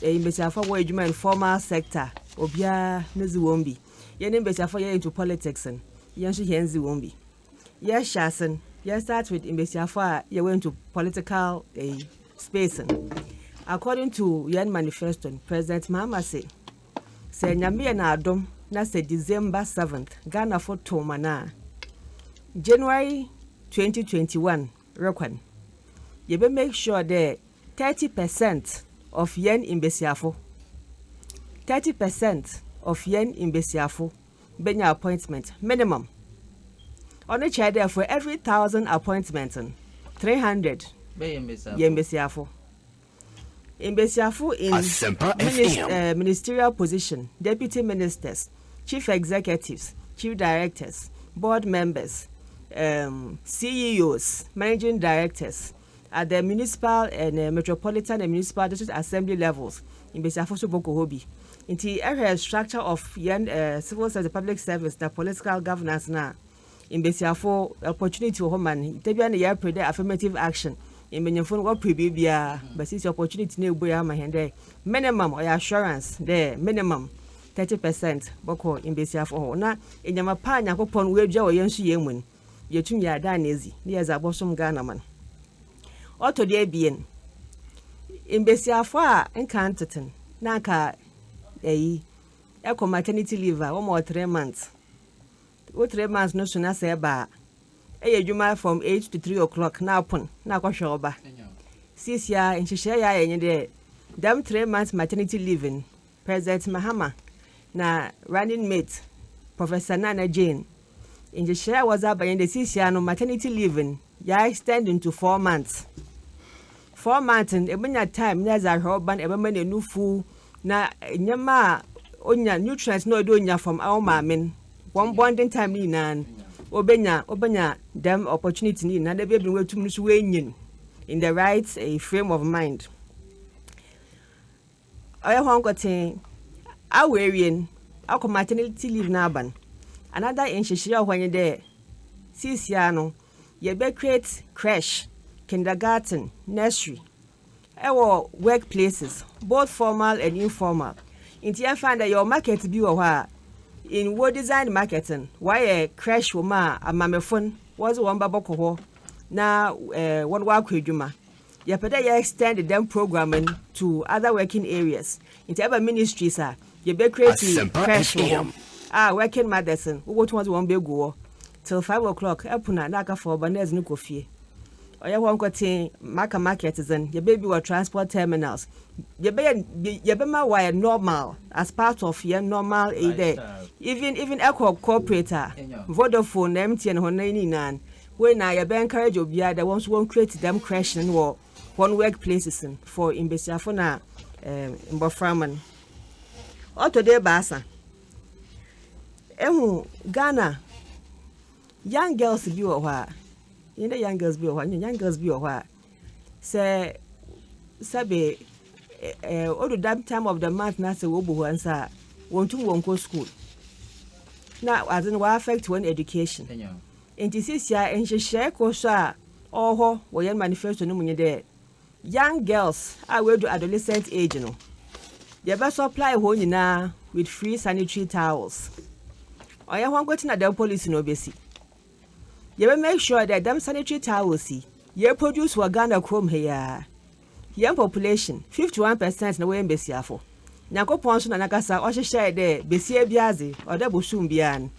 eh, mbesiafo wɔ adwuma informal sector, obiara ne dze wɔn bi. Yɛn ne mbesiafo yɛ into politics no, yɛn nso yɛn dze wɔn bi. Yɛhyɛ ase no, yɛn start with mbesiafo a yɛwɔ into political eh, space no. According to yɛn manifesto no, President Mahama se, Sɛ Nyame yɛ n'adom na sɛ December seventh Ghanafo tow ma no a, January twenty twenty one rekɔ no, yɛbɛ make sure dɛ thirty percent of yɛn mbasiafo, thirty percent of yɛn mbasiafo benya appointment, minimum. Ɔno kyerɛ dɛ for every thousand appointment no, three hundred yɛ mbasiafo. Mbasiafo in ministerial position, deputy ministers, chief executives, chief directors, board members, um, CEOs, managing directors at the municipal and uh, metropolitan and municipal district assembly levels. Mbasiafo so bɔkɔ hɔ bi. Nti ɛhwɛ structure of yɛn uh, civil service, public service na political governance na. Mbasiafo, opportunity wɔ hɔ ma no. Ntsi ebia nna yɛrepɛ dɛ affirmative action. Mbanyimfo no wɔpɛ biribiara, but sisi opportunity no ebuei ama hɛn dɛ minimum ɔyɛ assurance dɛ minimum thirty percent bɔkɔ mbasiafo hɔ. Na ndzɛmba pa a Nyankopɔn oedua wɔ hɛn suhyɛ mu no, yetum yɛadan no edzi na yɛdze abɔsom Ghanaman. Ɔtɔ do ebien, mbasiafo a nka anntsetse no, na anka ayi, kɔ maternity leave a wɔma wo three months. Wo three months no so na sɛ ɛba a, yɛ adwuma from eight to three o'clock na apon na akɔhwɛ wo ba. Siesie ara nhyehyɛe yɛ ayɛ nye dɛ dɛm three months maternity leave no President Mahama na Running Mate Professor Nana Jane nhyehyɛe a wɔdze aba nye dɛ siesie ara no maternity leave no yɛ extend into four months Four months no ebenya time na edze ahwɛ ɔba no ebɛma no enufuw na ndzɛmba a onya nutrients na ɔyɛ dɛ onya from awo maame no hɔn bonding time ne nyina no obenya obenya dɛm opportunity ne nyina na bi a bi na oetum no so oenyin in the right frame of mind. Ɔyɛ hɔn nkotsee. Awo ewie no, akɔ maternity leave no aba no, another nhyehyɛɛ a ɔwɔ hɔ nye dɛ siisiara no yɛbɛ create creche, kindergarten, nursery wɔ work places, both formal and informal. Ntsi yɛmfa no dɛ yɛwɔ market bi wɔ hɔ a, in wo designed market no, wɔayɛ creche wɔ mu a amamefo no wɔdze hɔn mba bɔkɔ hɔ na wɔakɔ edwuma. Yɛpɛ dɛ yɛ extend dɛm programme no to other working areas, ntsi ɛba ministries a, yɛbɛ create creche wɔ hɔ a working mothers no wobotum wɔdze hɔn begu hɔ till five o'clock pon a na aka fa ɔba na edze no kɔ fie. Ɔyɛ hɔ nkotsee, Maka market dze no yɛbɛ bi wɔ transport terminals, yɛbɛyɛ yɛbɛma wɔayɛ normal as part of hɛn normal eyi dɛ even even ɛkɔ corporate a, Vodafone na MTN hɔn ne nyinaa no Wei na yɛbɛ encourage obiara dɛ wɔnso wɔn create dɛm creche no wɔ hɔn work places no for mbasiafo na mboframba no. Ɔtɔ do ebiasa, ehu Ghana young girls bi wɔ hɔ a, nye dɛ young girls bi wɔ hɔ a, nye young girls bi wɔ hɔ a, sɛ sɛbe odu dɛm time of the month na sɛ wobu hɔn nsa a, wonntum wonnkɔ skuul na adze no ɔaffect hɔn education. Ntsi seseiara nhyehyɛɛ kor so a ɔwɔ hɔ wɔ hɛn manifesto no mu nye dɛ young girls a woedu adolescent age no, yɛbɛ supply hɔn nyina with free sanitary towels. Ɔnnyɛ hɔn nkotsee na dɛm policy no obesi. Yɛbɛ make sure dɛ dɛm sanitary towels yi, yeproduce wɔ Ghana kurom ha yi ara. Yɛn population, fifty one percent na wɔyɛ mbasiafo. Nyankopɔn so na Nankasa ɔhyehyɛɛ dɛ basia biara dze, ɔwɔ dɛ bosoom biara no,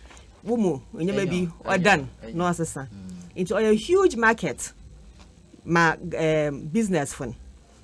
wo mu ndzɛmba bi ɔdan na ɔsesa. Ntsi ɔyɛ huge market ma ɛɛm businessfo no.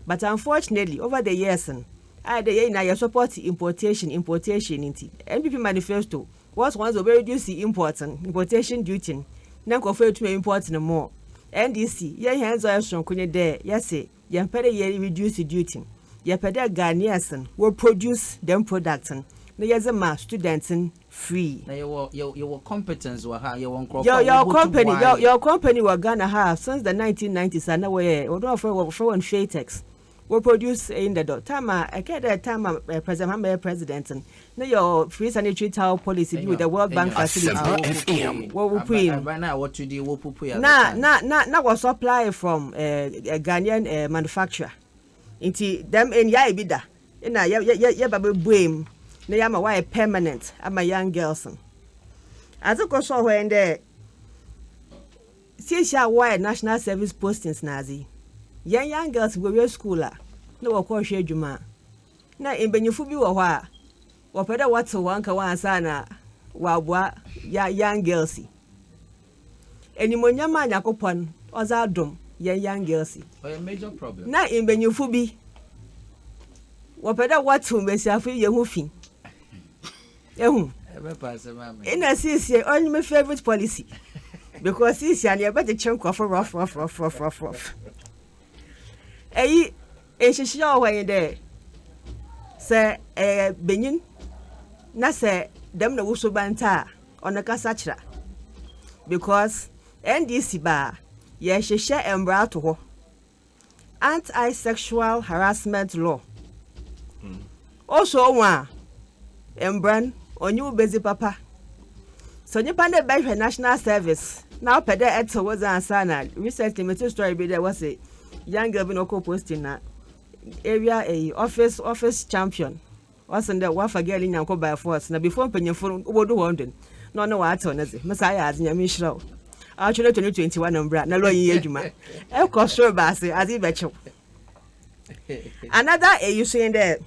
But unfortunately, over the years no, ayɛ dɛ yɛn nyina yɛ support importation, importation ntsi, NPP manifesto Wɔse wɔn dze wɔbɛ reduce import no, importation duty no, na nkorɔfo etum e import no more. NDC, yɛn hɛn dza ɔyɛ soronko nye dɛ yɛse yɛmmpɛ dɛ yɛ reduce duty. Yɛpɛ dɛ Ghanaians no wɔ produce dɛm product no na yɛdze ma students no free. Na yɛwɔ yɛwɔ competence wɔ ha, yɛwɔ nkorɔfo a wɔbotum company, yɛwɔ company wɔ Ghana ha since the nineteen nineties a na wɔyɛ, wɔdɔɔfo, wɔfrɛ wɔn Shatex. Wo produce eyi ndɛ dɔ. Time a ɛkɛɛ dɛ time a President Mahama yɛ President no, no yɛ ɔ free sanitary towel policy bi with the World Bank facility wɔ Wupuei mu. Na, na, na, na wɔ supply from eh, Ghanaian eh, manufacturer. Nti dɛm nyae bi da, na yɛ, yɛ, yɛ, yɛba bɛbuei mu na yɛama wayɛ permanent ama young girls no. Adze kor so wɔ hɔ ndɛ, Sehyia a wɔayɛ National Service Postings n'adze. Hɛn young girls wowie skuul a, nna wɔkɔ hwɛ edwuma. Nna mbanyimfo bi wɔ hɔ a, wɔpɛ dɛ wɔtsew hɔn kaw ansaana wɔaboa ya young girls yi. Enyimonyam a Nyankopɔn ɔdze adom hɛn young girls yi, nna mbanyimfo bi wɔpɛ dɛ wɔtsew mbasiafo yi hɔn ho fi. ehu ina sisi only my favorite policy because sisi ani ɛbɛ kyekyere nkurɔfo rɔfrɔfrɔfrɔfrɔf ɛyi nhyehyɛ wɔ hɔ yi dɛ sɛ ɛyɛ benyin na sɛ dɛm na wusu ba nta a ɔno kasa kyerɛ because ndc baa yɛhyehyɛ mmara to hɔ Anti-Sexual Harassment Law mm. osɔ wɔn a mbra no ɔnye wo bedzi papa sɛ nyimpa no bɛhwɛ national service na wopɛ dɛ ɛtse wo dze ansa na recently mete story bi dɛ wɔse young girl bi na ɔkɔ posting na area eyi office office champion Ɔsen dɛ wɔafa girl yi nya nkɔ by force na before mpanyimfo no wobodu hɔ ndo no na ɔne wɔatsew ne dze. Me saa yɛ adze Nyame nhyira wo. Awɔtwe no to ne twenty one mbra na lɔɔ yi nyɛ edwuma. Ekɔ sor ba ase adze yi bɛkyew. Another eyi so nye dɛ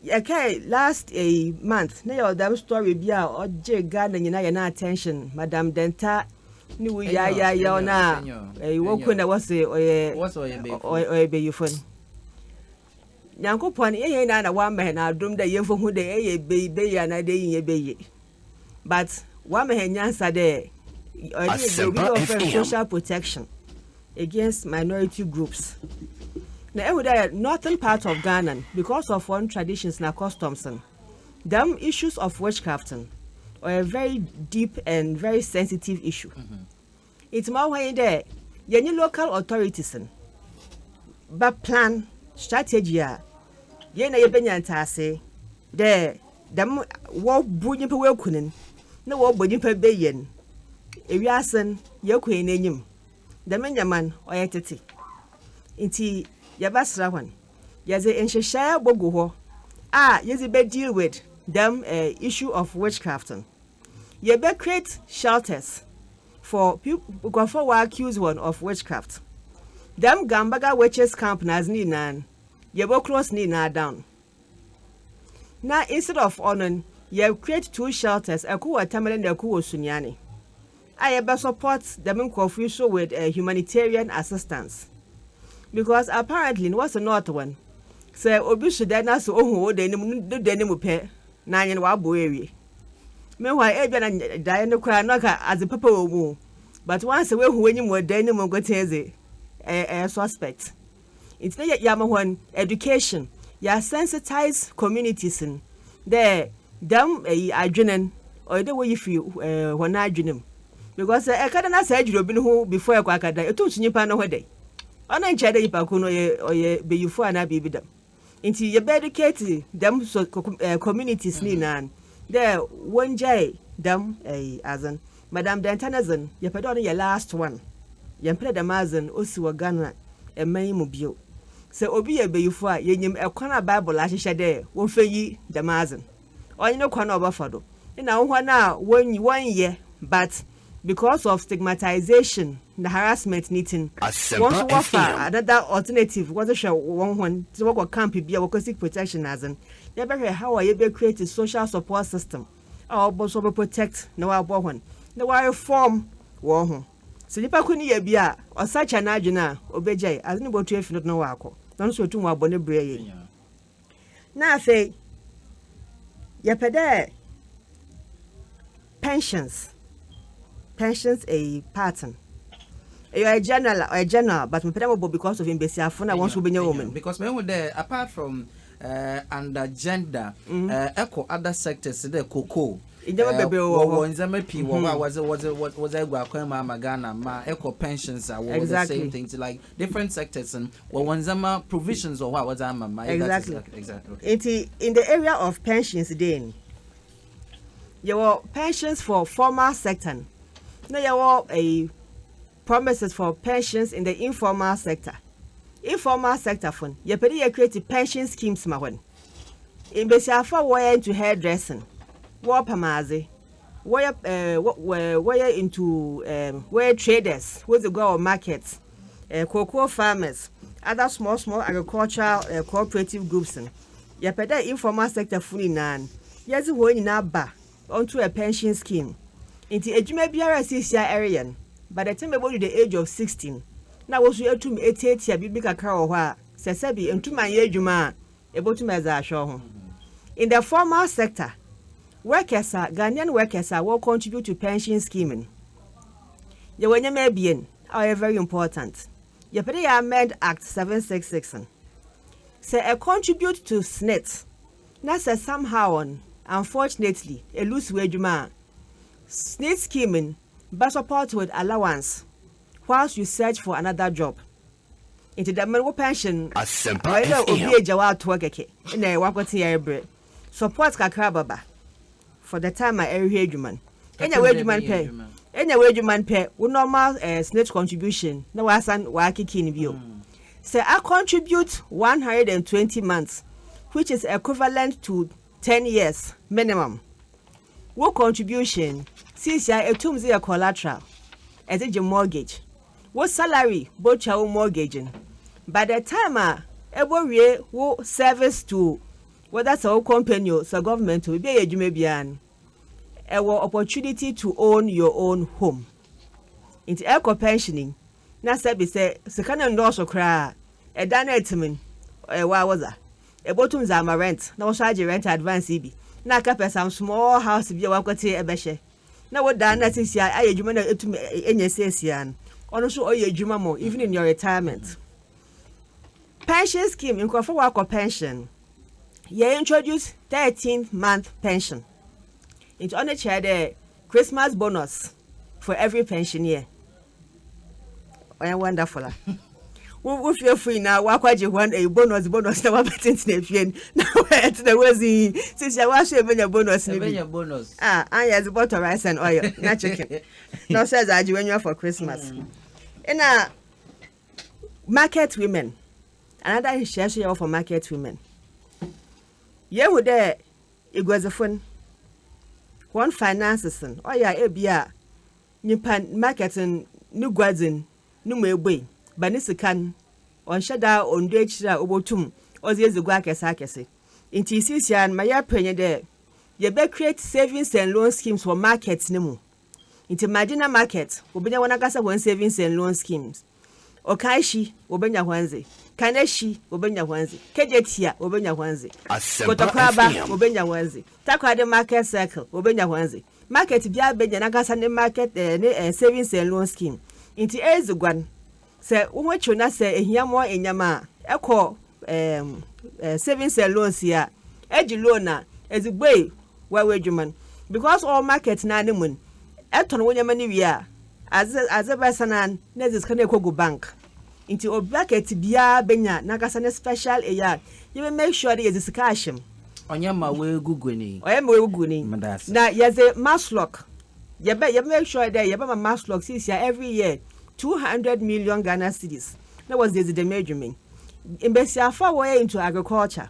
yɛkae last eyi month na yɛwɔ dɛm story bi a ɔgyee Ghana nyina hɛn attention, Madam Dɛnta ne wu yayaayaw no a eyi woku no na wɔse ɔyɛ ɔyɛ bayifo no. Nyankopɔn nnyɛ hɛn nyina na ɔama hɛn adom dɛ yɛmfa hu dɛ eyɛ beye beye anaadɛ iyi nnyɛ beye but ɔama hɛn nyansa dɛ ɔyɛ dɛ yɛwɔ biribi a wɔfrɛ no social protection against minority groups na ehu dɛ northern part of Ghana no because of hɔn traditions na customs no dɛm issues of witchcraft no ɔyɛ very deep and very sensitive issue. Ntsi ma ɔwɔ hɔ nye dɛ yɛnye local authorities no bɛ plan strategy a yɛn nyina yebenya ntseasee dɛ dɛm wɔbu nyimpa woeku no no na wɔbɔ nyimpa beyie no ewiase no yɛkɔ hɛn enyim. Dɛm ndzɛmba no ɔyɛ tsetse ntsi yɛbɛsera hɔn yɛdze nhyehyɛɛ bogu hɔ a yɛdze bɛ deal with dɛm issue of witchcraft no. Yɛbɛ create shelters for nkorɔfoɔ wɔ accuse wɔn of witchcraft. Dɛm Gambaga witches camp no adze ne nyinaa no, yɛbɔ close ne nyinaa down. Na instead of ɔno no, yɛ create two shelters, kor wɔ Tamale na kor wɔ Sunyani. a yɛbɛ support dɛm nkorɔfo yi so with humanitarian assistance because apparently no wɔse north hɔ no sɛ obi so dan na sɛ ohu wo dan no mu no dan no mu pɛ na anyen w'abow ewie meanwhile ebia na daeɛ no koraa no ka adze papa wɔ mu but once wehu w'enyim wɔ dan no mu nkotsee dze ɛyɛ suspect. Ntsi dɛ yɛama hɔn education, yɛasensitise communities no dɛ dɛm adwen no ɔyɛ dɛ woyi fi hɔn adwen mu because sɛ eka dɛ na sɛ edwer obi no ho before ekɔ akɛdan, etum su nyimpa no ho dɛn? Ɔno nnkyerɛ dɛ nyimpa kor no ɔyɛ ɔyɛ banyimfo anaa biribi dɛm. Ntsi yɛbɛ educate dɛm communities no nyina no dɛ wongyae dɛm adze no. Madam Dɛntɛ ne dze no yɛpɛ dɛ ɔno yɛ last one, yɛmmpɛ dɛ dɛm adze no osi wɔ Ghana man yi mu bio. Sɛ obi yɛ bayifo a yenyim kwan a Bible ahyehyɛ dɛ wɔmfa nyi dɛm adze no. ɔnye no kwan a ɔbɛfa do na hɔn a wonnyi wɔnnyɛ but because of stigmatisation na harassment ne tsi no hɔn so wɔfa another alternative wɔdze hwɛ hɔn hɔn dze wɔkɔ camp bi a wɔkɔ seek protection na adze no yɛbɛhwɛ how a yɛbɛ create social support system a ɔbɔ so ɔbɛ protect na ɔabɔ hɔn na wɔareform hɔn ho sɛ nyimpa kor no yɛ bi a ɔsakyera n'adwen a obegyae adze no botu efi no do na ɔakɔ na ɔno so otum ɔabɔ ne bra yie. na afei yɛpɛ dɛ pensions pensions eyi part no ɛyɛ ɔyɛ general ɔyɛ general but mepɛ dɛ mobɔ because of mbesiafo na wɔn nso wobɛnya wɔn mu. because mehu dɛ apart from uh, under gender mm. uh, ɛkɔ other sectors dɛ cocoa ndzɛmba bebree wɔ hɔ ndzɛmba pii wɔ hɔ a wɔdze wɔdze wɔdze agu akwan mu ama ghana ma ɛkɔ pensions a wɔwɔ the same thing ti like Different sectors no wɔ wɔn ndzɛmba provisions wɔ hɔ a wɔdze ama ma yɛ that is ok exactly ok. Ntsi in the area of pensions dee no yɛwɔ pensions for formal sector no na yɛwɔ ɛyi promises for pensions in the informal sector informal sector fo no yɛpɛ dɛ yɛ create pension schemes ma hɔn mbasiafo a wɔyɛ into hairdressing wɔɔpam adze Wɔyɛ eh wɔyɛ into eh wɔyɛ traders wɔdze gua wɔ market eh cocoa farmers other small small agricultural eh cooperative groups no yɛpɛ dɛ informal sector fo nyinaa no yɛdze hɔn nyinaa ba onto a pension scheme ntsi edwuma biara a siisia ereyɛ no by the time ebodu the age of sixty no na wo so etum etsiatsia biribi kakra wɔ hɔ a sɛ sɛbi enntum annyɛ edwuma a Ebotum dze ahwɛ woho. In the formal sector, workers a, Ghanaian workers a wɔ contribute to pension scheme no, yɛwɔ ndzɛmba ebien a ɔyɛ very important. Yɛpɛ dɛ yɛ amend Act seven six six no. Sɛ e contribute to SSNIT na sɛ somehow on unfortunately e lose w'edwuma a, SSNIT scheme no bɛ support with allowance whilst you search for another job. Ntsi dɛm no wo pɛnhyen no ɔyɛ dɛ obi egya wo atoa kɛkɛ nna ɔakɔtse yɛrebrɛ. Support kakra bɛba for the time a erohwɛ edwuma no. Enya w'edwuma no pɛ enya w'edwuma no pɛ wo normal eh SSNIT contribution na ɔasan ɔakeke no bio. Sɛ a contribute one hundred and twenty months which is equivalent to ten years minimum wo contribution no siisia etum dze yɛ collateral ɛdze gye mortgage wo salary botwa wo mortgage no by the time a ɛbɔwie wo service to whether sɛ wo company o sɛ government o biribi a ɛyɛ adwuma biara no ɛwɔ opportunity to own your own home nti ɛkɔ pension yi na sɛbi sɛ sika no nnɔɔso koraa a ɛda no ɛtimi no ɛwɔ a wɔdza ɛbɔtum dza ama rent na wɔso agye rent advance yi bi na akɛpɛ some small house bi a wakɔte ɛbɛhyɛ na wo daa na sisi ayɛ adwuma na etum enya siesia no ɔno nso ɔyɛ adwuma mo even in your retirement pension scheme nkurɔfo wakɔ pension yɛ introduce thirteen month pension nti ɔno kyerɛ dɛ christmas bonus for every pensioner ɔyɛ wonderful a wo fiefo nyinaa woakɔgye hɔn ɛyɛ eh, bonus bonus na woabɛtentena afie no na ɛtena woazi sisi a woaso ɛbɛnya bonus no bi a anyɛ dze bɔtɔ rice and oil na chicken na ɔsɛ dze agye w'anyiwa for christmas ɛna mm. market women another nhyɛ so yɛwɔ for market women yɛhu dɛ eguadzifo no wɔn finances no ɔyɛ a ebi a Nyimpa n' market n' no guadzi n' no mu ebue, ba ne sika n' ɔnnhyɛ da onndua ekyir a obotum ɔdze edzi gua akɛse akɛse. Ntsi siisia n' ma yɛper nye dɛ yɛbɛ create savings and loan schemes wɔ market no mu. Ntsi ma gyina market, wobenya hɔnankasa hɔn savings and loan schemes. Okaeshi, wobenya hɔn dze. Kaneshi, wobenya hɔn dze. Kejetia, wobenya hɔn dze. Kotokwaba, wobenya hɔn dze. Takoradi Market Circle, wobenya hɔn dze. Market biara benya nankasa ne market eh, ne eh, savings and loan scheme. Ntsi edzi guan. Sɛ woho tsew na sɛ ehia mɔ ndzɛmba a, ekɔ ehm, eh, savings and loans yi a, egye loan a, edze bue w'awo edwuma no. Because ɔwɔ market no ara no mu no, etɔn wo ndzɛmba no wie a, Adze adze bɛsa no a na edze sika no ekogu bank ntsi obi akɛtse biara benya nankasa ne special eyi a yɛbɛ make sure dɛ yɛdze sika ahyɛ mu. Ɔnyɛ ma woegugu no yi. Ɔyɛ ma woegugu no yi. Meda ase. Na yɛdze maslock yɛbɛ yɛbɛ make sure dɛ yɛbɛma maslock siisia every year two hundred million Ghana cedis na wɔdze edzi dɛm edwuma yi. Mbasiafo a wɔyɛ into agriculture.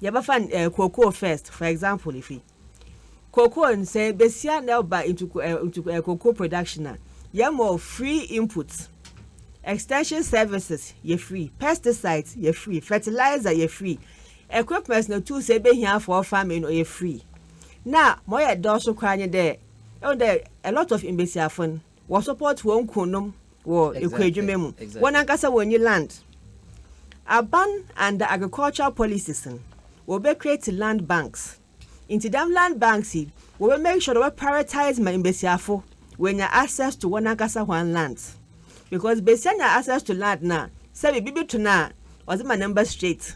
Yɛbɛfa eh, cocoa first, for example, no fi. Cocoa no sɛ besia na ɛba into eh, into eh, cocoa production a, yɛmɔ free input, extension services yɛ free, pesticides yɛ free, fertilizer yɛ free, equipment na tools ebehia for farming no yɛ free. Na ma ɔyɛ dɔɔso koraa nye dɛ, ɛwɔ dɛ a lot of mbesiafo no, Wɔ support wɔn kuonom wɔ ekuo adwuma mu. Wɔn ankasa wɔn nni land. Aban under agricultural policies no wɔbɛ create land banks. Nti dɛm land banks yi wɔbɛ make sure wɔbɛ prioritize ma mbesiafo wɔanya access to wɔn ankasa hɔn lands. Because besia nya access to land no a sɛ biribi to no a ɔdze ma ne mba straight.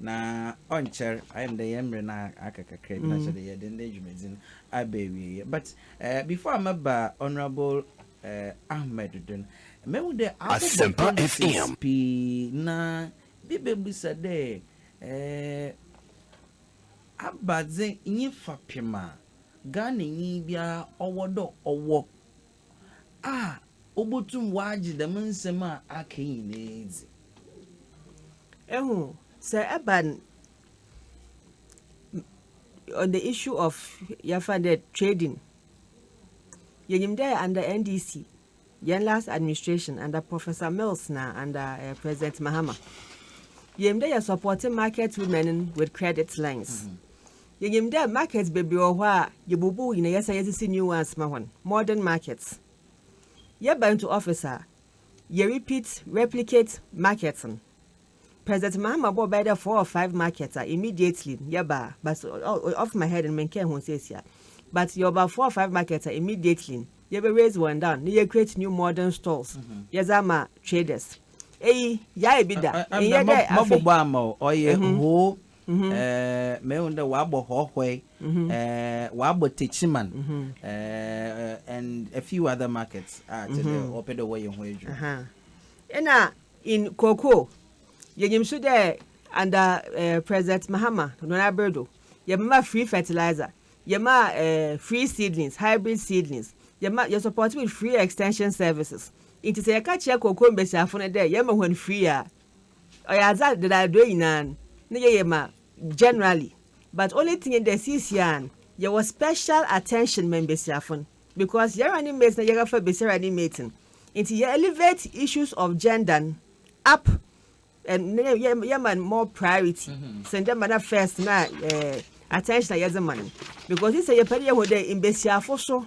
Na ɔnkyɛr, ayɛ no dɛ hɛn mber no aka kakra bi na kyerɛ dɛ yɛdze ndɛ dwumadzi no aba ewiei. But eh, before a mɛba Honourable eh, Ahmed do no, mehu dɛ abobɔ policies pii na bi bebisa dɛ eh, abadze nye fapem a Ghananyi biara ɔwɔ dɛ ɔwɔ a obotum ɔagye dɛm nsɛm a aka yi nyina edzi. Ehu, sɛ ɛba n on the issue of yɛmfa no dɛ trading, yenyim dɛ under NDC, hɛn last administration under Professor Mills na under eh, President Mahama, yenyim dɛ yɛsupportee market women no with credit lines. Yenyim dɛ markets beberee wɔ hɔ a yebubu hɔn nyina yɛsan yɛdze si new ones ma hɔn, modern markets. Yɛba into office a, yɛ repeat, replicate, markets no. President Mahama bɔɔ bɛyɛ dɛ four or five markets a immediately no yɛbaa but off my head no mennkɛɛ ho sesea but yɛwɔ about four or five markets a immediately no yɛbɛ raise hɔn down na yɛ create new modern stores yɛdze ama traders. Eyi, yɛayɛ bi da, nnyɛ dɛ afei. Mabobɔ ama wo, ɔyɛ whole mehu dɛ ɔabɔ Hɔhoe, ɔabɔ Techiman, and a few other markets a kyerɛ dɛ wɔpɛ dɛ wɔyɛ ho edwuma. Nna in Cocoa, yenyim so dɛ under President Mahama hɔn aber do, yɛmema free fertilizer, yɛmaa free seedlings, hybrid seedlings, yɛma yɛ supportee with free extension services. Ntsi sɛ yɛka kyerɛ cocoa mbasiafo no dɛ yɛma hɔn free a, Ɔyɛ adze a dɛn adodow nyina no ne yɛ yɛ ma generally but only thing nye dɛ siisia no yɛwɔ special attention ma mbasiafo no because yɛnye running mate na yɛrefa basia running mate no ntsi yɛ elevate issues of gender no up and na yɛma no more priority sen dɛ ma na first na attention a yɛdze ma no because nsɛ yɛpɛ dɛ yɛhu dɛ mbasiafo so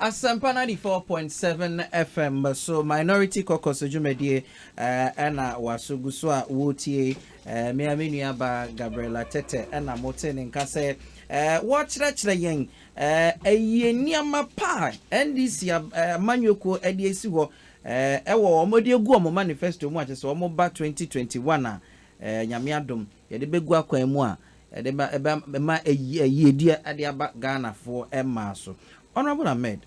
Asempa ninety four point seven FM so Minority Caucus dwumadie na waso gu so a woretie. Me ara me nua baa Gabriella Tete na motee ne nka sɛ wɔrekyerɛkyerɛ yɛn ayie nneɛma pa a NDC amanyɔkuo de asi hɔ wɔ wɔn de agu wɔn manifesto mu a kyerɛ sɛ wɔba twenty twenty one a Nyame adom Yɛde bɛgu akwan mu a ɛde ma ɛbɛ ɛma ayi ayiyedie ɛde aba Ghanafoɔ mmaa so. Honourable Ahmed,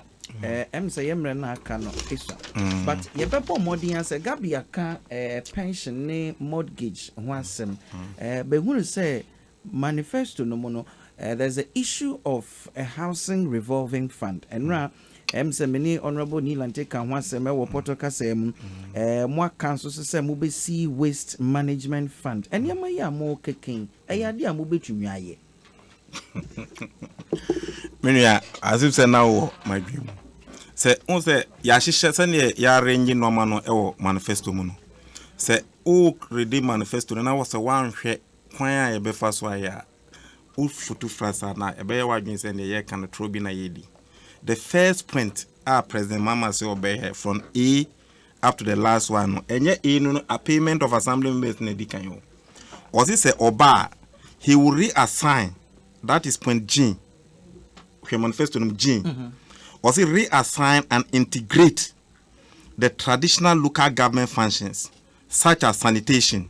eh, ɛm sɛ yɛ mmerɛ no a aka no esua. But yɛbɛbɔ mmɔden ara sɛ Gabi aka eh, pension ne mortgage ho asɛm. Eh, bɛhunu sɛ manifesto no mu no, eh, there's a issue of a housing revolving fund. Ɛno a Ɛm sɛ me ne Honourable Neil Antey kaa ho asɛm wɔ Pɔtɔ kasaa mu. Ɛɛ mo aka nso so sɛ mobɛsi Waste Management Fund. Nneɛma yi a morekeka yi, ɛyɛ adeɛ a mobɛtumi ayɛ? Me nua, as if sɛ na wowɔ m'adwene mu. Sɛ wohu sɛ yɛahyehyɛ sɛdeɛ yɛarrange nneɛma no wɔ manifesto mu no, sɛ woredi manifesto no na wɔ sɛ woanhwɛ kwan a yɛbɛfa so ayɛ a, wo foto fra saa na ɛbɛyɛ w'adwene sɛ neɛ yɛreka no torɔ bi na yɛredi. The first point a President Mahama sɛ ɔbɛyɛ from A up to the last one no, ɛnyɛ A no no apayment of assembly members na ɛdi kan o. Ɔse sɛ ɔba a, he will reassign, that is point G, hwɛ manifesto no G. Mm-hmm. Ɔse reassign and integrate the traditional local government functions such as sanitation,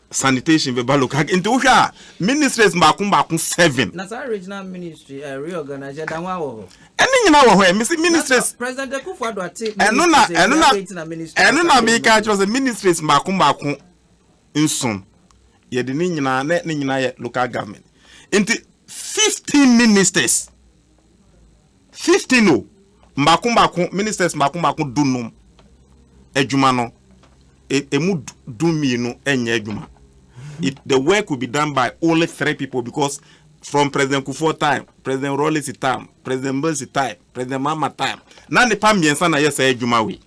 sanitation bɛba local nti wohwɛ a ministries baako baako seven. na saa regional ministry uh, eh, reorganize ɛda ho awɔ hɔ. ɛne nyinaa wɔ hɔ ɛ mesi ministries. president akufo ado ate ministries ɛno na ɛno na ministries ɛno na mi ka kyerɛ sɛ ministries baako baako nson yɛde ne nyinaa ne ne nyinaa yɛ local government nti fifteen ministers. Fifteen o, mbaako mbaako, ministers mbaako mbaako dunum, edwuma no, e, emu dumienu nyɛ edwuma. It, the work will be done by only three people because from President Kufuor time, President Rawlings time, President Mills time, President Mahama time, na nipa mmiɛnsa na yɛ saa edwuma wei.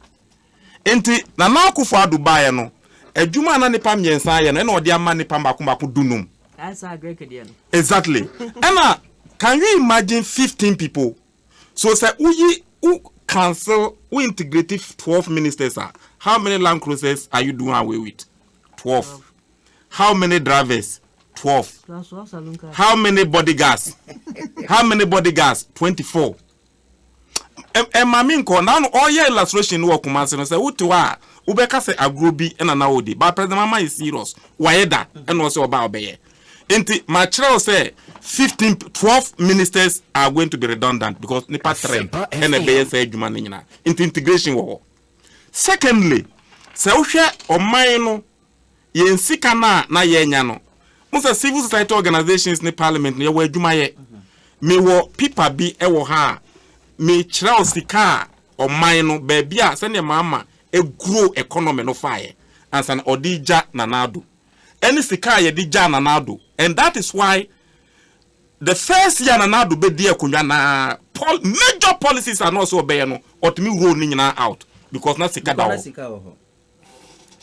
Enti Nana Akufo Addo baeɛ no, adwuma a na nnipa mmiɛnsa reyɛ no, ɛna ɔde ama nnipa mmaako mmaako dunum. Ɛyɛ saa Greek deɛ no. Exactly. Ɛna can you imagine fifteen people? So sɛ woyi, wo cancel, wo integrate twelve ministers a, how many land cruisers are you doing away with? Twelve. How many drivers? Twelve. Plus twelve saloon cars. How many bodyguards? How many bodyguards? Twenty four. ɛma me nkɔ na no ɔyɛ illustration no wɔ Kumasi no sɛ wote hɔ a wobɛka sɛ agorɔ bi ɛna na ɔdi but president mama yɛ serious wayɛ da ɛna ɔsɛ ɔba ɔbɛyɛ nti makyerɛ wo sɛ 15 12 ministers are going to be redundant because nipa three ɛna ɛbɛyɛ sɛ adwuma no nyinaa nti integration wɔ hɔ secondly sɛ wohwɛ ɔman no Yɛn sika no a na yɛnya no, wohu sɛ civil society organisations ne parliament no, yɛwɔ adwuma yɛ. Mewɔ pipa bi wɔ ha a mekyerɛw sika a ɔman no, baabi a sɛdeɛ Mahama grow economy no faeɛ ansa na ɔde regya Nana Addo, ɛne sika a yɛde gyaa Nana Addo. And that is why the first year a Nana Addo bɛdii akonnwa no ara, pol, major policies a na ɔsɛ ɔbɛyɛ no, ɔtumi roll ne nyinaa out because na sika da hɔ.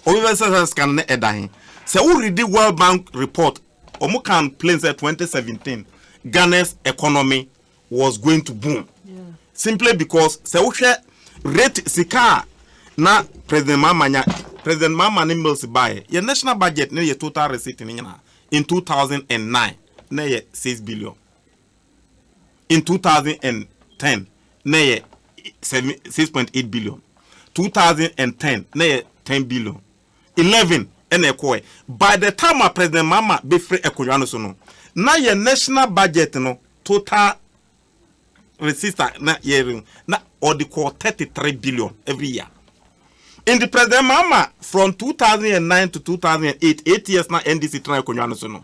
Obi bɛ sɛ sɛ scan ne ɛda he. Sɛ wo readi World Bank report, ɔmo kaa no plain sɛ 2017 Ghana's economy was going to boom. Simply because sɛ wo hwɛ rate sika a na President Mahama nya, President Mahama ne Mills baeɛ, yɛ national budget ne yɛ total receipt ne nyinaa in 2009 na yɛ 6 billion. in two thousand and ten na ɛyɛ seven six point eight billion two thousand and ten na ɛyɛ ten billion eleven ɛna ɛkɔɛ by the time a president mahama bɛfiri akonnwa no so no na yɛ national budget no total receipts a na yɛre na ɔde kɔɔ thirty three billion every year nti president mahama from two thousand and nine to two thousand and eight eight years na ndc tena akonnwa no so no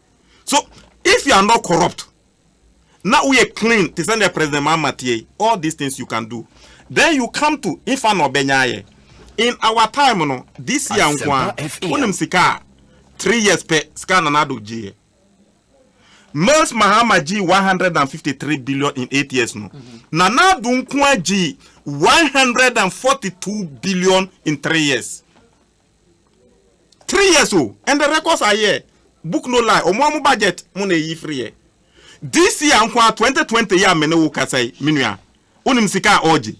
So if you are not corrupt na woyɛ clean te sɛ nea President Mahama teɛ yi, all these things you can do. Then you come to nfa na ɔbɛnya ayɛ. In our time no, this year nko ara, wonim sika a three years pɛ sika a Nana Addo gyeeɛ. Mills Mahama gyee 153 billion in eight years no, mm-hmm. Nana Addo nko ara gyee 142 billion in three years. three years o and the records are here book no lie ɔmo ɔmo budget mo na eyi firi yɛ this year nko a twenty twenty yɛ a me ne wo kasa yi me nua wonim sika a ɔgye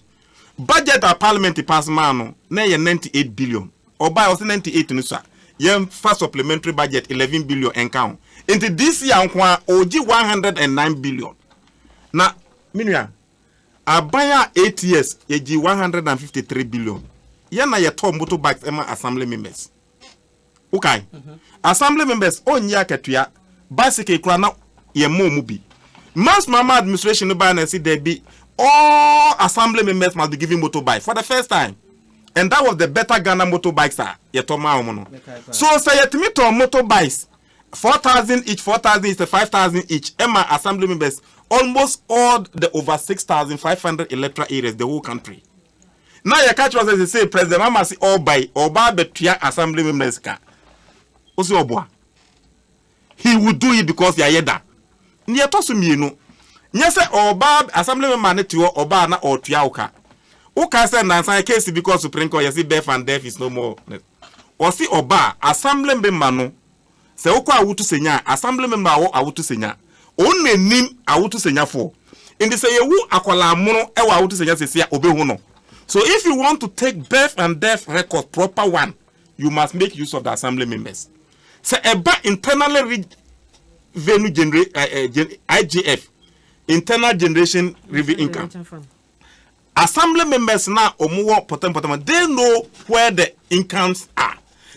budget a parliament pass maa no na ɛyɛ ninety eight billion ɔbaa ɔsɛ ninety eight no sa yɛn fa supplementary budget eleven billion ɛnka ho nti this year nko a ɔgye one hundred and nine billion na me nua. Aban a eight years yɛgyee one hundred and fifty three billion yɛn na yɛtɔɔ motor bikes ɛma assembly members wokae assembly members ɔnyi akatua bicycle kura na yɛn mɔ mu bi mass mama administration no baa na ɛsi dɛbi all assembly members must be given motor bike for the first time and that was the better Ghana motor bikes a yɛtɔ maa wɔn no so sɛ yɛtumi tɔn motor bikes. Four thousand each four thousand each sɛ five thousand each ɛma assembly members almost all the over six thousand five hundred electoral areas the whole country na yɛka kyerɛ sɛ sese president mama se ɔreba yi ɔreba abɛtua assembly members ka ɔsi ɔboa he would do it because yɛayɛ da ne ɛtɔ so mmienu nyɛ sɛ ɔreba assembly member ne te hɔ ɔbaa na ɔretua wo ka woka sɛ nansan case bi kɔ supreme court yɛsi deaf and deaf is no more Ɔse ɔba a assembly member no sɛ wokɔ awotu senya a assembly member wɔ awotu senya on na nim awotu senya foɔ nti sɛ yɛwu akwadaa mono wɔ awotu senya sɛsi a ɔbɛhu no so if you want to take birth and death records proper one you must make use of the assembly members sɛ ɛba internally reg venu genera eh, eh, gen IGF internal generation revenue income Assembly members no a wɔwɔ Pɔtam Pɔtam no, they know where the incomes are.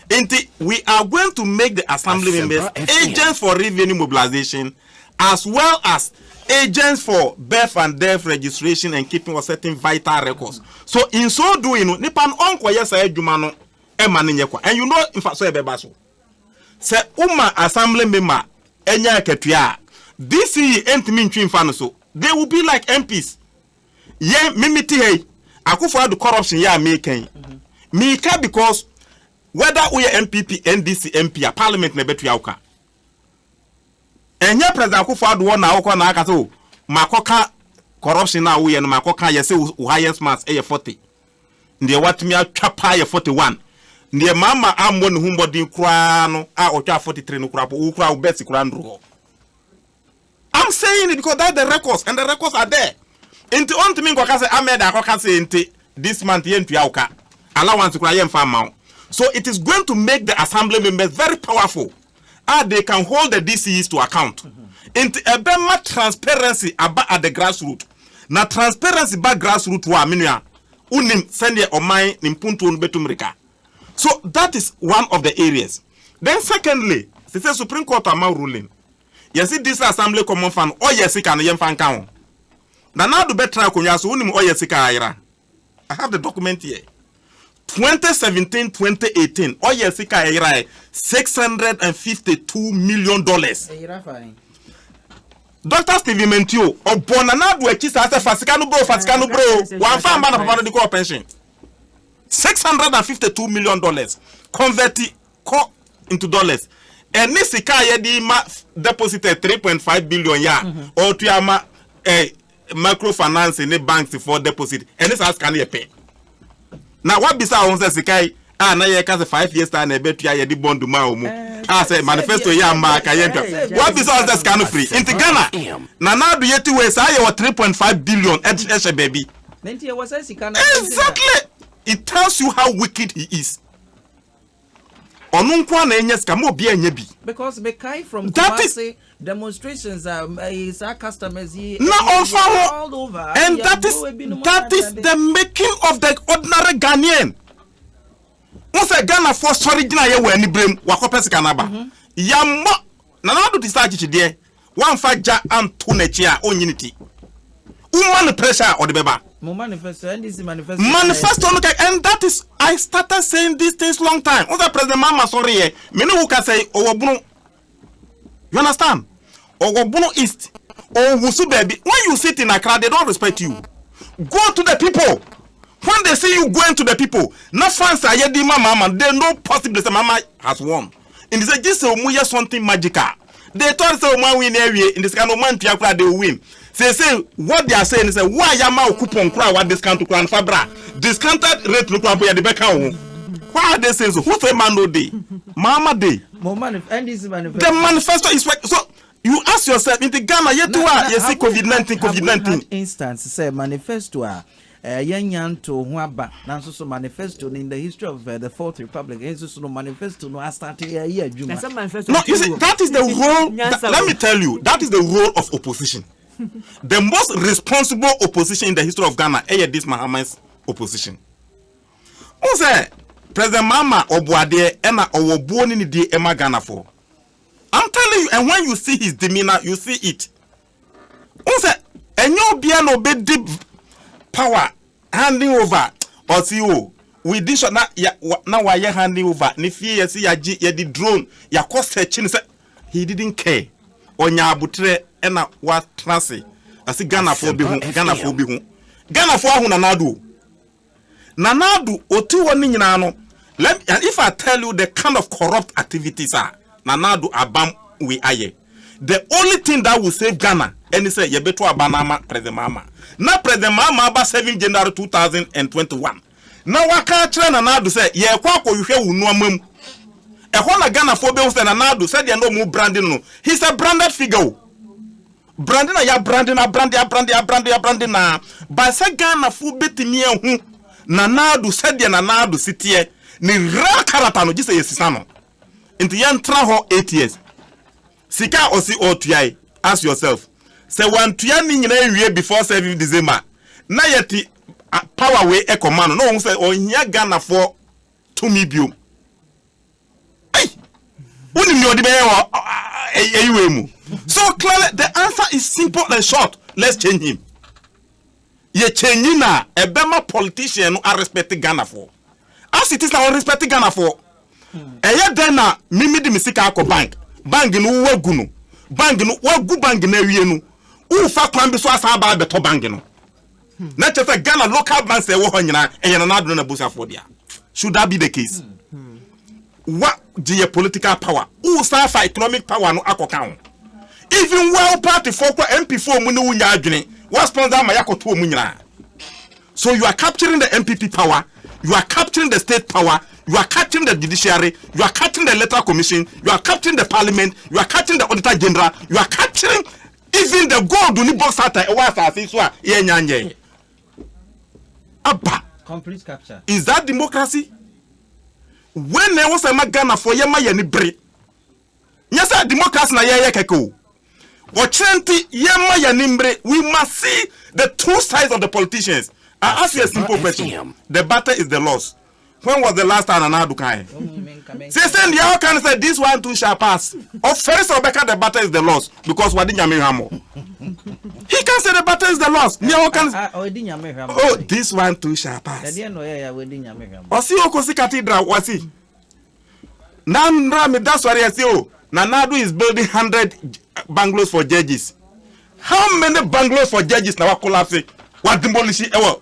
Nti, we are going to make the Assembly members agents for revenue mobilization as well as agents for birth and death registration and keeping of certain vital records. So in so doing no, nipa no ɔnkɔyɛ saa adwuma no ɛma no nyɛ kwa. And you know mfaso a ɛbɛba so. Sɛ woma assembly member nya akatua a, DCE ntumi ntwi mfa no so. They will be like MPs. Yɛn, me mete ha yi, Akufo Addo corruption yɛ a meka yi, meka because whether woyɛ NPP, NDC MP a, parliament na ɛbɛtua wo ka. Ɛnyɛ President Akufo Addo hɔ na wokɔ na aka sɛ o, makɔka corruption a woyɛ no makɔka, yɛse wo highest marks yɛ 40. Deɛ watumi atwa paa yɛ forty one. Deɛ mama ammɔ ne ho mmɔden koraa no a ɔtwaa forty three no koraa mpo, wo koraa wo best koraa nnuru hɔ. I'm saying it because that's the records and the records are there. Nti ɔntumi nkɔka sɛ Ahmed akɔka sɛ nti this month yɛntua wo ka. Allowance koraa yɛmfa mma wo. So it is going to make the assembly members very powerful. a they can hold the DCEs to account. Nti ɛbɛma transparency aba at the grassroot. Na transparency ba grassroot hɔ a, me nua, wonim sɛdeɛ ɔman ne mpuntuo no bɛtu mmirika. So that is one of the areas. Then secondly, sese Supreme Court ama ruling. Yɛse District Assembly Common Fund ɔyɛ sika no yɛmfa nka ho. Nana Addo bɛtena akonnwa so, wonim ɔyɛ sika ayera. I have the document here. 2017-2018, ɔyɛ sika a ɛyera ɛ 652 million dollars. Dr. Stephen Mentio, ɔbɔ na n'ado akyi saa sɛ fa sika no bro, fa sika no bro, wɔamfa mma na papa no de kɔɔ pension. 652 million dollars convert kɔ into dollars. Ɛne sika a yɛde ma deposited 3.5 billion yɛ a ɔtua ma eh, Micro finance ne banks foɔ deposit ɛne saa sika no yɛ pɛ. Na wabisa wɔn sɛ sika yi a na yɛka sɛ five years time na ɛbɛtua yɛde bond maa wɔn mu a sɛ manifesto yɛ ama a ka yɛntwa. Wabisa wɔn sɛ sika no firi nti Ghana na n'ado yɛ ti wei saa yɛwɔ three point five billion ɛhyɛ baabi. Exactly! It tells you how wicked he is. Ɔno nko ara na anya sika, mma obiara nnya bi. Because me kae from Kumasi demonstrations a ɛyi saa customers yi. Na ɔnfa ho and that is that is the making of the ordinary Ghanaian. N sɛ Ghana foɔ sɔre gyina yɛ wɔ anibere mu wakɔpɛ sika n'aba. Yamma Nana Addo te sɛ akyekyedeɛ Woamfa gya anto n'akyi a onnyi ne ti. Woma no pressure a ɔde bɛba. Mo manifesto, NDC manifesto no kae. Manifesto no kae and that is I started saying these things long time. Wohu sɛ President Mahama sɔreeɛ, me ne wo kasa yi ɔwɔ Bono. You understand? Ɔwɔ Bono East. Ɔnwoso baabi. When you sit in Accra, they don't respect you. Go to the people. When they see you going to the people, na fans a yɛde ma Mahama no, they know possibly sɛ Mahama has won. nti sɛ gye sɛ ɔmu yɛ something magical they thought sɛ ɔmu awine awie nti sika no ɔmu antua koraa they will win seesei what they are saying ne sɛ wo a yɛama wo coupon koraa a wa discount koraa no fa bra discounted rate no koraa mpo yɛde bɛka wo ho what are they saying so who say man no day maama day Mo manif NDC manifesto. the manifesto is work so you ask yourself nti Ghana yɛtu a yɛsi covid nineteen covid nineteen. instance sɛ manifesto a Ɛɛ, yɛanya ntoo ho aba, nanso so manifesto no in the history of the Fourth Republic, ɛhe nso so no manifesto no astate ayɛ adwuma? Now, you see, that is the role, that, let me tell you, that is the role of opposition. The most responsible opposition in the history of Ghana ɛyɛ this Mahama's opposition. Wohu sɛ President Mahama ɔbo adeɛ ɛna ɔwɔ buo ne nidie ɛma Ghanafoɔ. I'm telling you, and when you see his demeanour, you see it. Who said? And you be an obey deep power handing over or see oh. We did so now. Now why you handing over? Ni fear you see ya ji ya di drone ya cost her chin. He didn't care. Onya abutre ena wa trase. Asi Ghana for be hu. Ghana for be hu. Ghana for ahu na nadu. Nana Addo ɔti hɔ ne nyinaa no let and if I tell you the kind of corrupt activities a Nana Addo abam wei ayɛ the only thing that will save Ghana ɛne sɛ yɛbɛ to aba no ama President Mahama na President Mahama aba seven January two thousand and twenty one na waka akyerɛ Nana Addo sɛ yɛrekɔ akɔ hwehwɛ wo nnoɔma mu ɛhɔ na Ghanafoɔ bɛhu sɛ Nana Addo sɛdeɛ na ɔmo brandi no no he's a branded figure o. Brande na yɛabrande no abrande abrande abrande abrande na bae sɛ Ghanafoɔ bɛtumi ahu Nana Addo sɛdeɛ Nana Addo si teɛ, ne real character no gye sɛ yɛsisa no. Nti yɛntena hɔ eight years. Sika a ɔse ɔretua yi, ask yourself, sɛ wantua ne nyinaa anwie before seventh December a, na yɛte power wei kɔma no na ɔhu sɛ ɔnhia Ghanafoɔ tumi biom. wonim deɛ ɔde bɛyɛ wɔ ɛyiwei mu so clearly the answer is simple and short let's change him yɛ change na ɛbɛma politician no arespect ghanafoɔ as it is na ɔrespect ghanafoɔ ɛyɛ dɛn na mimi de me sika akɔ bank bank no wowagu no bank no woagu bank no awie no wofa kwan bi so asan aba abɛtɔ bank no na kyɛ sɛ ghana local brands a ɛwɔ hɔ nyinaa ɛyɛ nana adona na busafoɔ dea should that be the case wa gye yɛ political power wo san fa economic power no akɔka ho even well party foɔ kɔ mp foɔ mu ne wo nya adwene wa sponsor ama yɛakɔtoɔ mu nyinaa so you are capturing the mpp power you are capturing the state power you are capturing the judiciary you are capturing the electoral commission you are capturing the parliament you are capturing the auditor general you are capturing Even the gold ni box ata ɛwɔ asase so a yɛnya nyɛɛ aba. Complete capture. Is that democracy? When na ɛwɔ sɛ ma Ghana fo yɛ ma yɛ ni bere. Nyɛ sɛ democracy na yɛyɛ kɛkɛ o. Ɔkyerɛ nti yɛ ma yɛ ni mbere. We must see the two sides of the politicians. I ask you a simple question. The battle is the loss. when was the last time nana ado kae sɛ sɛ ndeɛ ɔka no sɛ this one too shall pass ɔfɛre sɛ ɔbɛka the butter is the loss because wade nyame hwammɔ he can say the butter is the loss ndeɛ ɔka no oh this one too shall pass ɔse ɔkɔsi cathedral ɔse na nra me da sɔre ase o nana ado is building hundred bungalows for judges how many bungalows for judges na wa collapse wa demolish ɛwɔ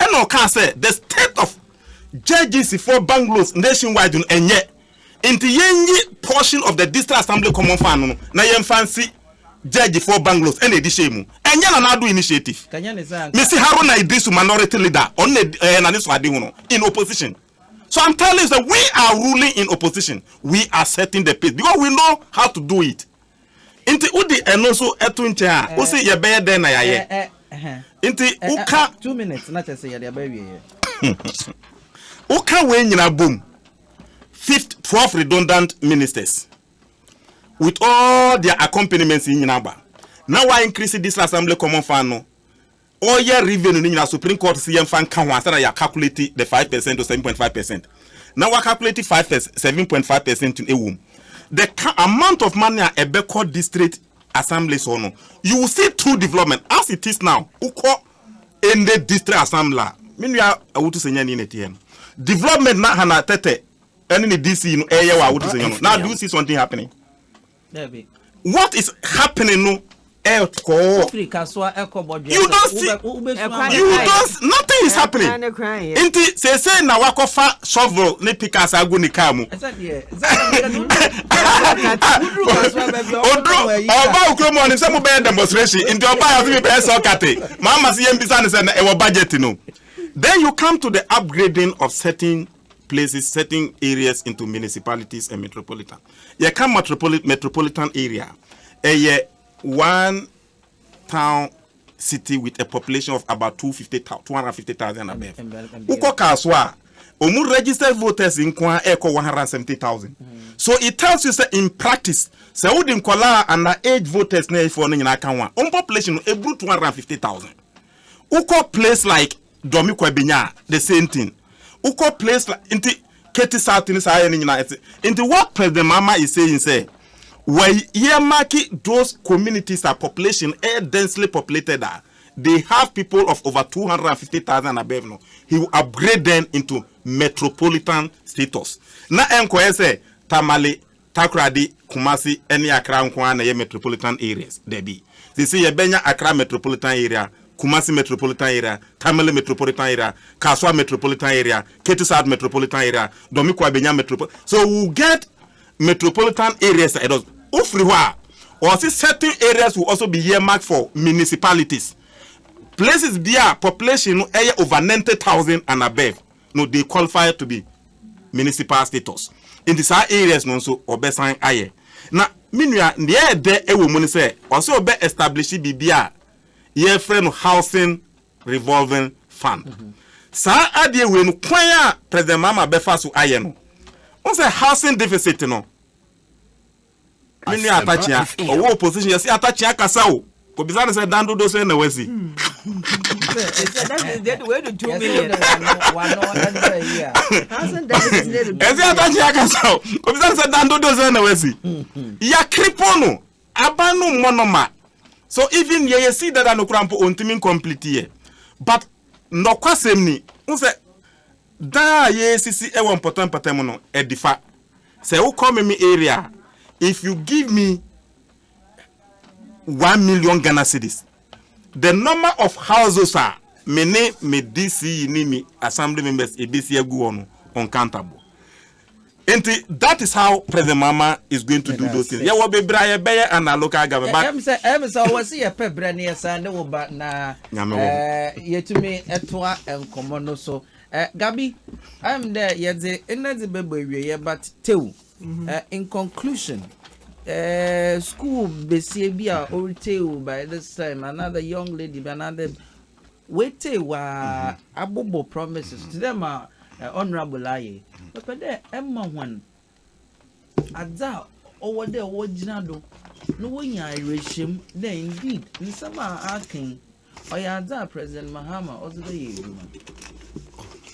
Ɛna ɔkaa sɛ the state of judges foɔ bungalows nationwide no ɛnyɛ nti yɛnyi portion of the district assembly common fund no na yɛmfa nsi judge foɔ bungalows ɛna ɛdi hyɛɛ mu ɛnyɛ Nana Addo initiative mesi Haruna Iddrisu minority leader ɔno na ɛyɛ nane so ade hono in opposition so I'm telling you that we are ruling in opposition we are setting the pace because we know how to do it Nti wode ɛno nso to nkyɛn a, wose yɛbɛyɛ dɛn na yɛayɛ? Nti woka woka wei nyinaa bom, fifth, twelve redundant ministers with all their accompaniments nyinaa ba na wa increase this assembly common fund no ɔyɛ revenue no nyinaa supreme court se yɛmfa nka ho ansa na yɛ calculate the five percent or seven point five percent na wa calculate five percent seven point five percent no ɛwom the amount of money a ɛbɛkɔ district assemblies hɔ no you will see two development as it is now wokɔ ɛnde district assembly a me nua awotu sɛ nyɛ ne ne teɛ no development na hana tɛtɛ ɛne ne DC no ɛyɛ wɔ awotu sɛ nyɛ no now do you see something happening Dabi. What is happening no ɛkɔɔ. Wofiri kasoa ɛkɔ bɔdwɛ. You don't see. You don't nothing is happening. Nti sese na wakɔ fa shovel ne pickaxe agu ne car mu. Ɛsɛ deɛ. Oduro ɔba okuro mu ɔnim sɛ mo bɛyɛ demonstration nti ɔba yɛ ɔsi mi bɛyɛ sɔkate. Maa ma si yɛn bisa ne sɛ na ɛwɔ budget no. Then you come to the upgrading of certain places certain areas into municipalities and metropolitan yɛka metropolitan metropolitan area a ɛyɛ one town city with a population of about 250,000 250,000 above wokɔ kaa so a wɔn registered voters nko ara ɛrekɔ 170,000 so it tells you say in practice sɛ wode nkɔlaa ana age voters na ɛfoɔ no nyinaa ka ho a wɔn population no ɛburu 250,000 wokɔ place like dɔ me kwa benya a the same thing wokɔ place la nti Katie South ne saa ayɛ ne nyinaa ɛte nti what President Mahama is saying sɛ wɔ earmark those communities a population ɛyɛ densely populated a they have people of over 250,000 and above no he will upgrade them into metropolitan status na ɛnkɔyɛ sɛ Tamale Takoradi, Kumasi ne Accra nko ara na ɛyɛ metropolitan areas? Dabi. Seesei yɛbɛnya Accra Metropolitan Area, Kumasi Metropolitan Area, Tamale Metropolitan Area, Kasoa Metropolitan Area, Ketu South Metropolitan Area, Dɔmiko abenya Metropol. So we will get metropolitan areas a ɛdɔɔso. Wofiri hɔ a, wɔse certain areas will also be earmarked for municipalities, places bi a population no yɛ over ninety thousand and above. no they qualify to be municipal status nti saa areas no nso wɔbɛsan ayɛ na me nua deɛ ɛdɛ ɛwɔ mu no sɛ ɔsɛ ɔbɛ establish biribi a yɛfrɛ no housing revolving fund saa adeɛ wei no kwan a president mama bɛfa so ayɛ no wɔn sɛ housing deficit no Me nua Atakyea, ɔwɔ opposition yɛse Atakyea kasa o. Kɔbisa no sɛ dan dodo sɛn na wasi. Ɛsɛ Atakyea kasa o. Kɔbisa no sɛ dan dodo sɛn na wasi. Yɛakripo no, aban no mmɔ no ma. So even yɛ yɛsi dada no kora mpo ɔntumi complete yɛ. But nɔkwasɛm ni, wo sɛ dan a yɛsisi wɔ mpɔtam mpɔtam no, ɛdifa. Sɛ wo kɔ meme area a if you give me one million Ghana cedis the number of houses a me ne me DC yi ne me assembly members ebesi agu hɔ no uncountable. Nti that is how President Mahama is going to do those things. Yɛ wɔ bebree a yɛ bɛyɛ and our local government but. Ɛm sɛ ɛm sɛ ɔwɔ si yɛ pɛ brɛ ne yɛ san ne wo ba na ɛɛ yɛtumi ɛtoa nkɔmɔ no so Eh Gabi, ayɛ me dɛ yɛdze ndɛ dze bɛbɔ ewieyɛ but tew, eh in conclusion, eh school basia bi a oritsie wo by this time anaa the young lady bi anaa the oetsie wo a abobɔ promises tse dɛ ma honourable ayɛ yi, mepɛ dɛ ema hɔn adze a ɔwɔ dɛ wogyina do na wonya awerɛhyɛmu dɛ indeed nsɛm a ɔaka yi ɔyɛ adze a President Mahama ɔdze bɛyɛ edwuma.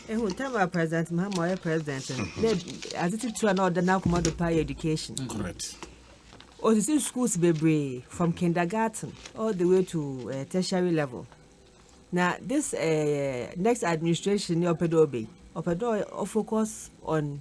Ehu tam a President Mahama ɔyɛ president no, mm-hmm. dɛ adze tsitsir a na ɔda n'akoma do paa yɛ education. Mm-hmm. Correct. Osisi schools bebree from kindergarten all the way to uh, tertiary level. Na this uh, next administration ni ɔpɛ dɛ ɔbɛ ɔpɛ dɛ ɔfocus on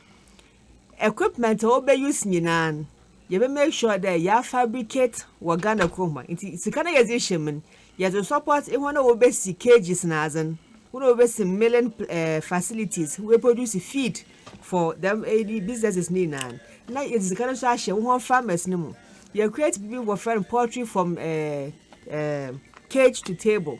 Equipment a wɔbɛ use nyinaa no, yɛbɛ make sure dɛ yɛa fabricate wɔ Ghana kurom ha. Ntsi sika no a yɛdze hyɛ mu no, yɛdze support hɔn a wobesi cages na adze no, hɔn a wobesi milling facilities, woeproduce feed for dɛm businesses no nyinaa no, na yɛdze sika no so ahyɛ wo hɔn farmers no mu. Yɛ create biribi wɔfrɛ no poultry from cage to table.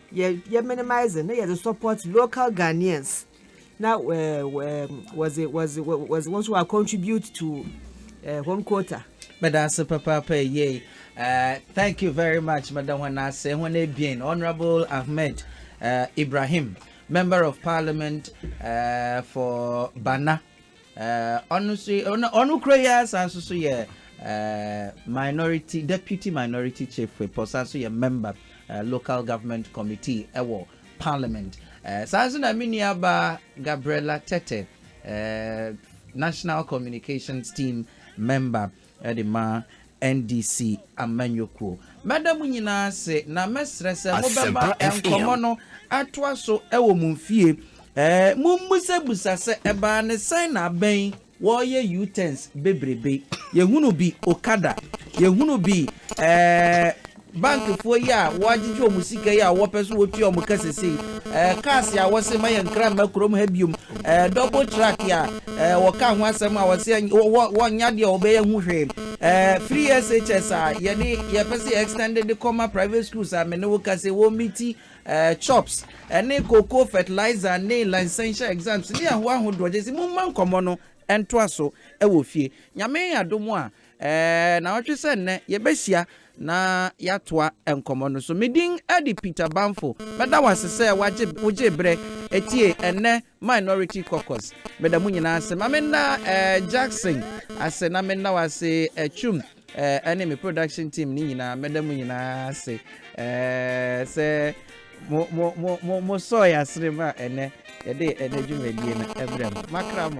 Yɛ yɛ minimise na yɛdze support local Ghanaians na wɔdze wɔdze wɔdze wɔn nso wɔa contribute to hɔn quota. Meda ase papaapa eyei. Thank you very much meda hɔn ase hɔn ebien Honourable Ahmed Ibrahim Member of Parliament for Bana. Ɛɛ, ɔno nso yi, ɔno, ɔno kura yi ara san nso so yɛ ɛɛ minority, deputy minority chief whip, ɔsan nso yɛ member ɛɛ local government committee ɛwɔ parliament. Ɛɛ, saa nso na me nua baa Gabriella Tetteh, ɛɛ national communications team member. de ma NDC amanyɔkuo. Mɛda mo nyinaa ase na mɛsrɛ sɛ mobɛma nkɔmmɔ no atoa so wɔ mo mfie. Mommusabusa sɛ ɛbaa ne sɛn na abɛn wɔreyɛ U-turns bebrebe. Yɛhunu bi Okada, yɛhunu bi ɛɛ Bankfoɔ yi a wɔagyegye wɔn sika yi a wɔpɛ so wɔtua wɔn ka sesei, eh, cars a wɔse ma yɛn kra mma kurom ha biom, eh, double track a, eh, wɔkaa ho asɛm a wɔse ɛny wɔ wɔ wɔnnyɛ adeɛ a wɔbɛyɛ ho hwee, eh, free SHS a yɛde yɛpɛ se yɛ extend de kɔma private schools a me ne wo ka se wɔ miti, eh, chops, ɛne cocoa fertilizer ne licential exams ne ahoa ahodoɔ, gyese momma nkɔmmɔ no ntoa so wɔ fie. Nyame adom a, Nnaawɔtwe sɛ nnɛ, yɛbɛhyia na yɛatoa nkɔmmɔ no so. Me din de Peter Banfo. Mɛda wo ase sɛ woagye, wogyee berɛ tiee nnɛ Minority Caucus. Meda mo nyinaa ase. Ma menna Jackson ase na menna wo ase Twum ne me production team no nyinaa. Mɛda mo nyinaa ase sɛ mo, mo, mo, mo, mosɔɔ yɛn asene ma ɛnnɛ yɛde ɛnnɛ dwumadie no brɛ mo. Makra mo.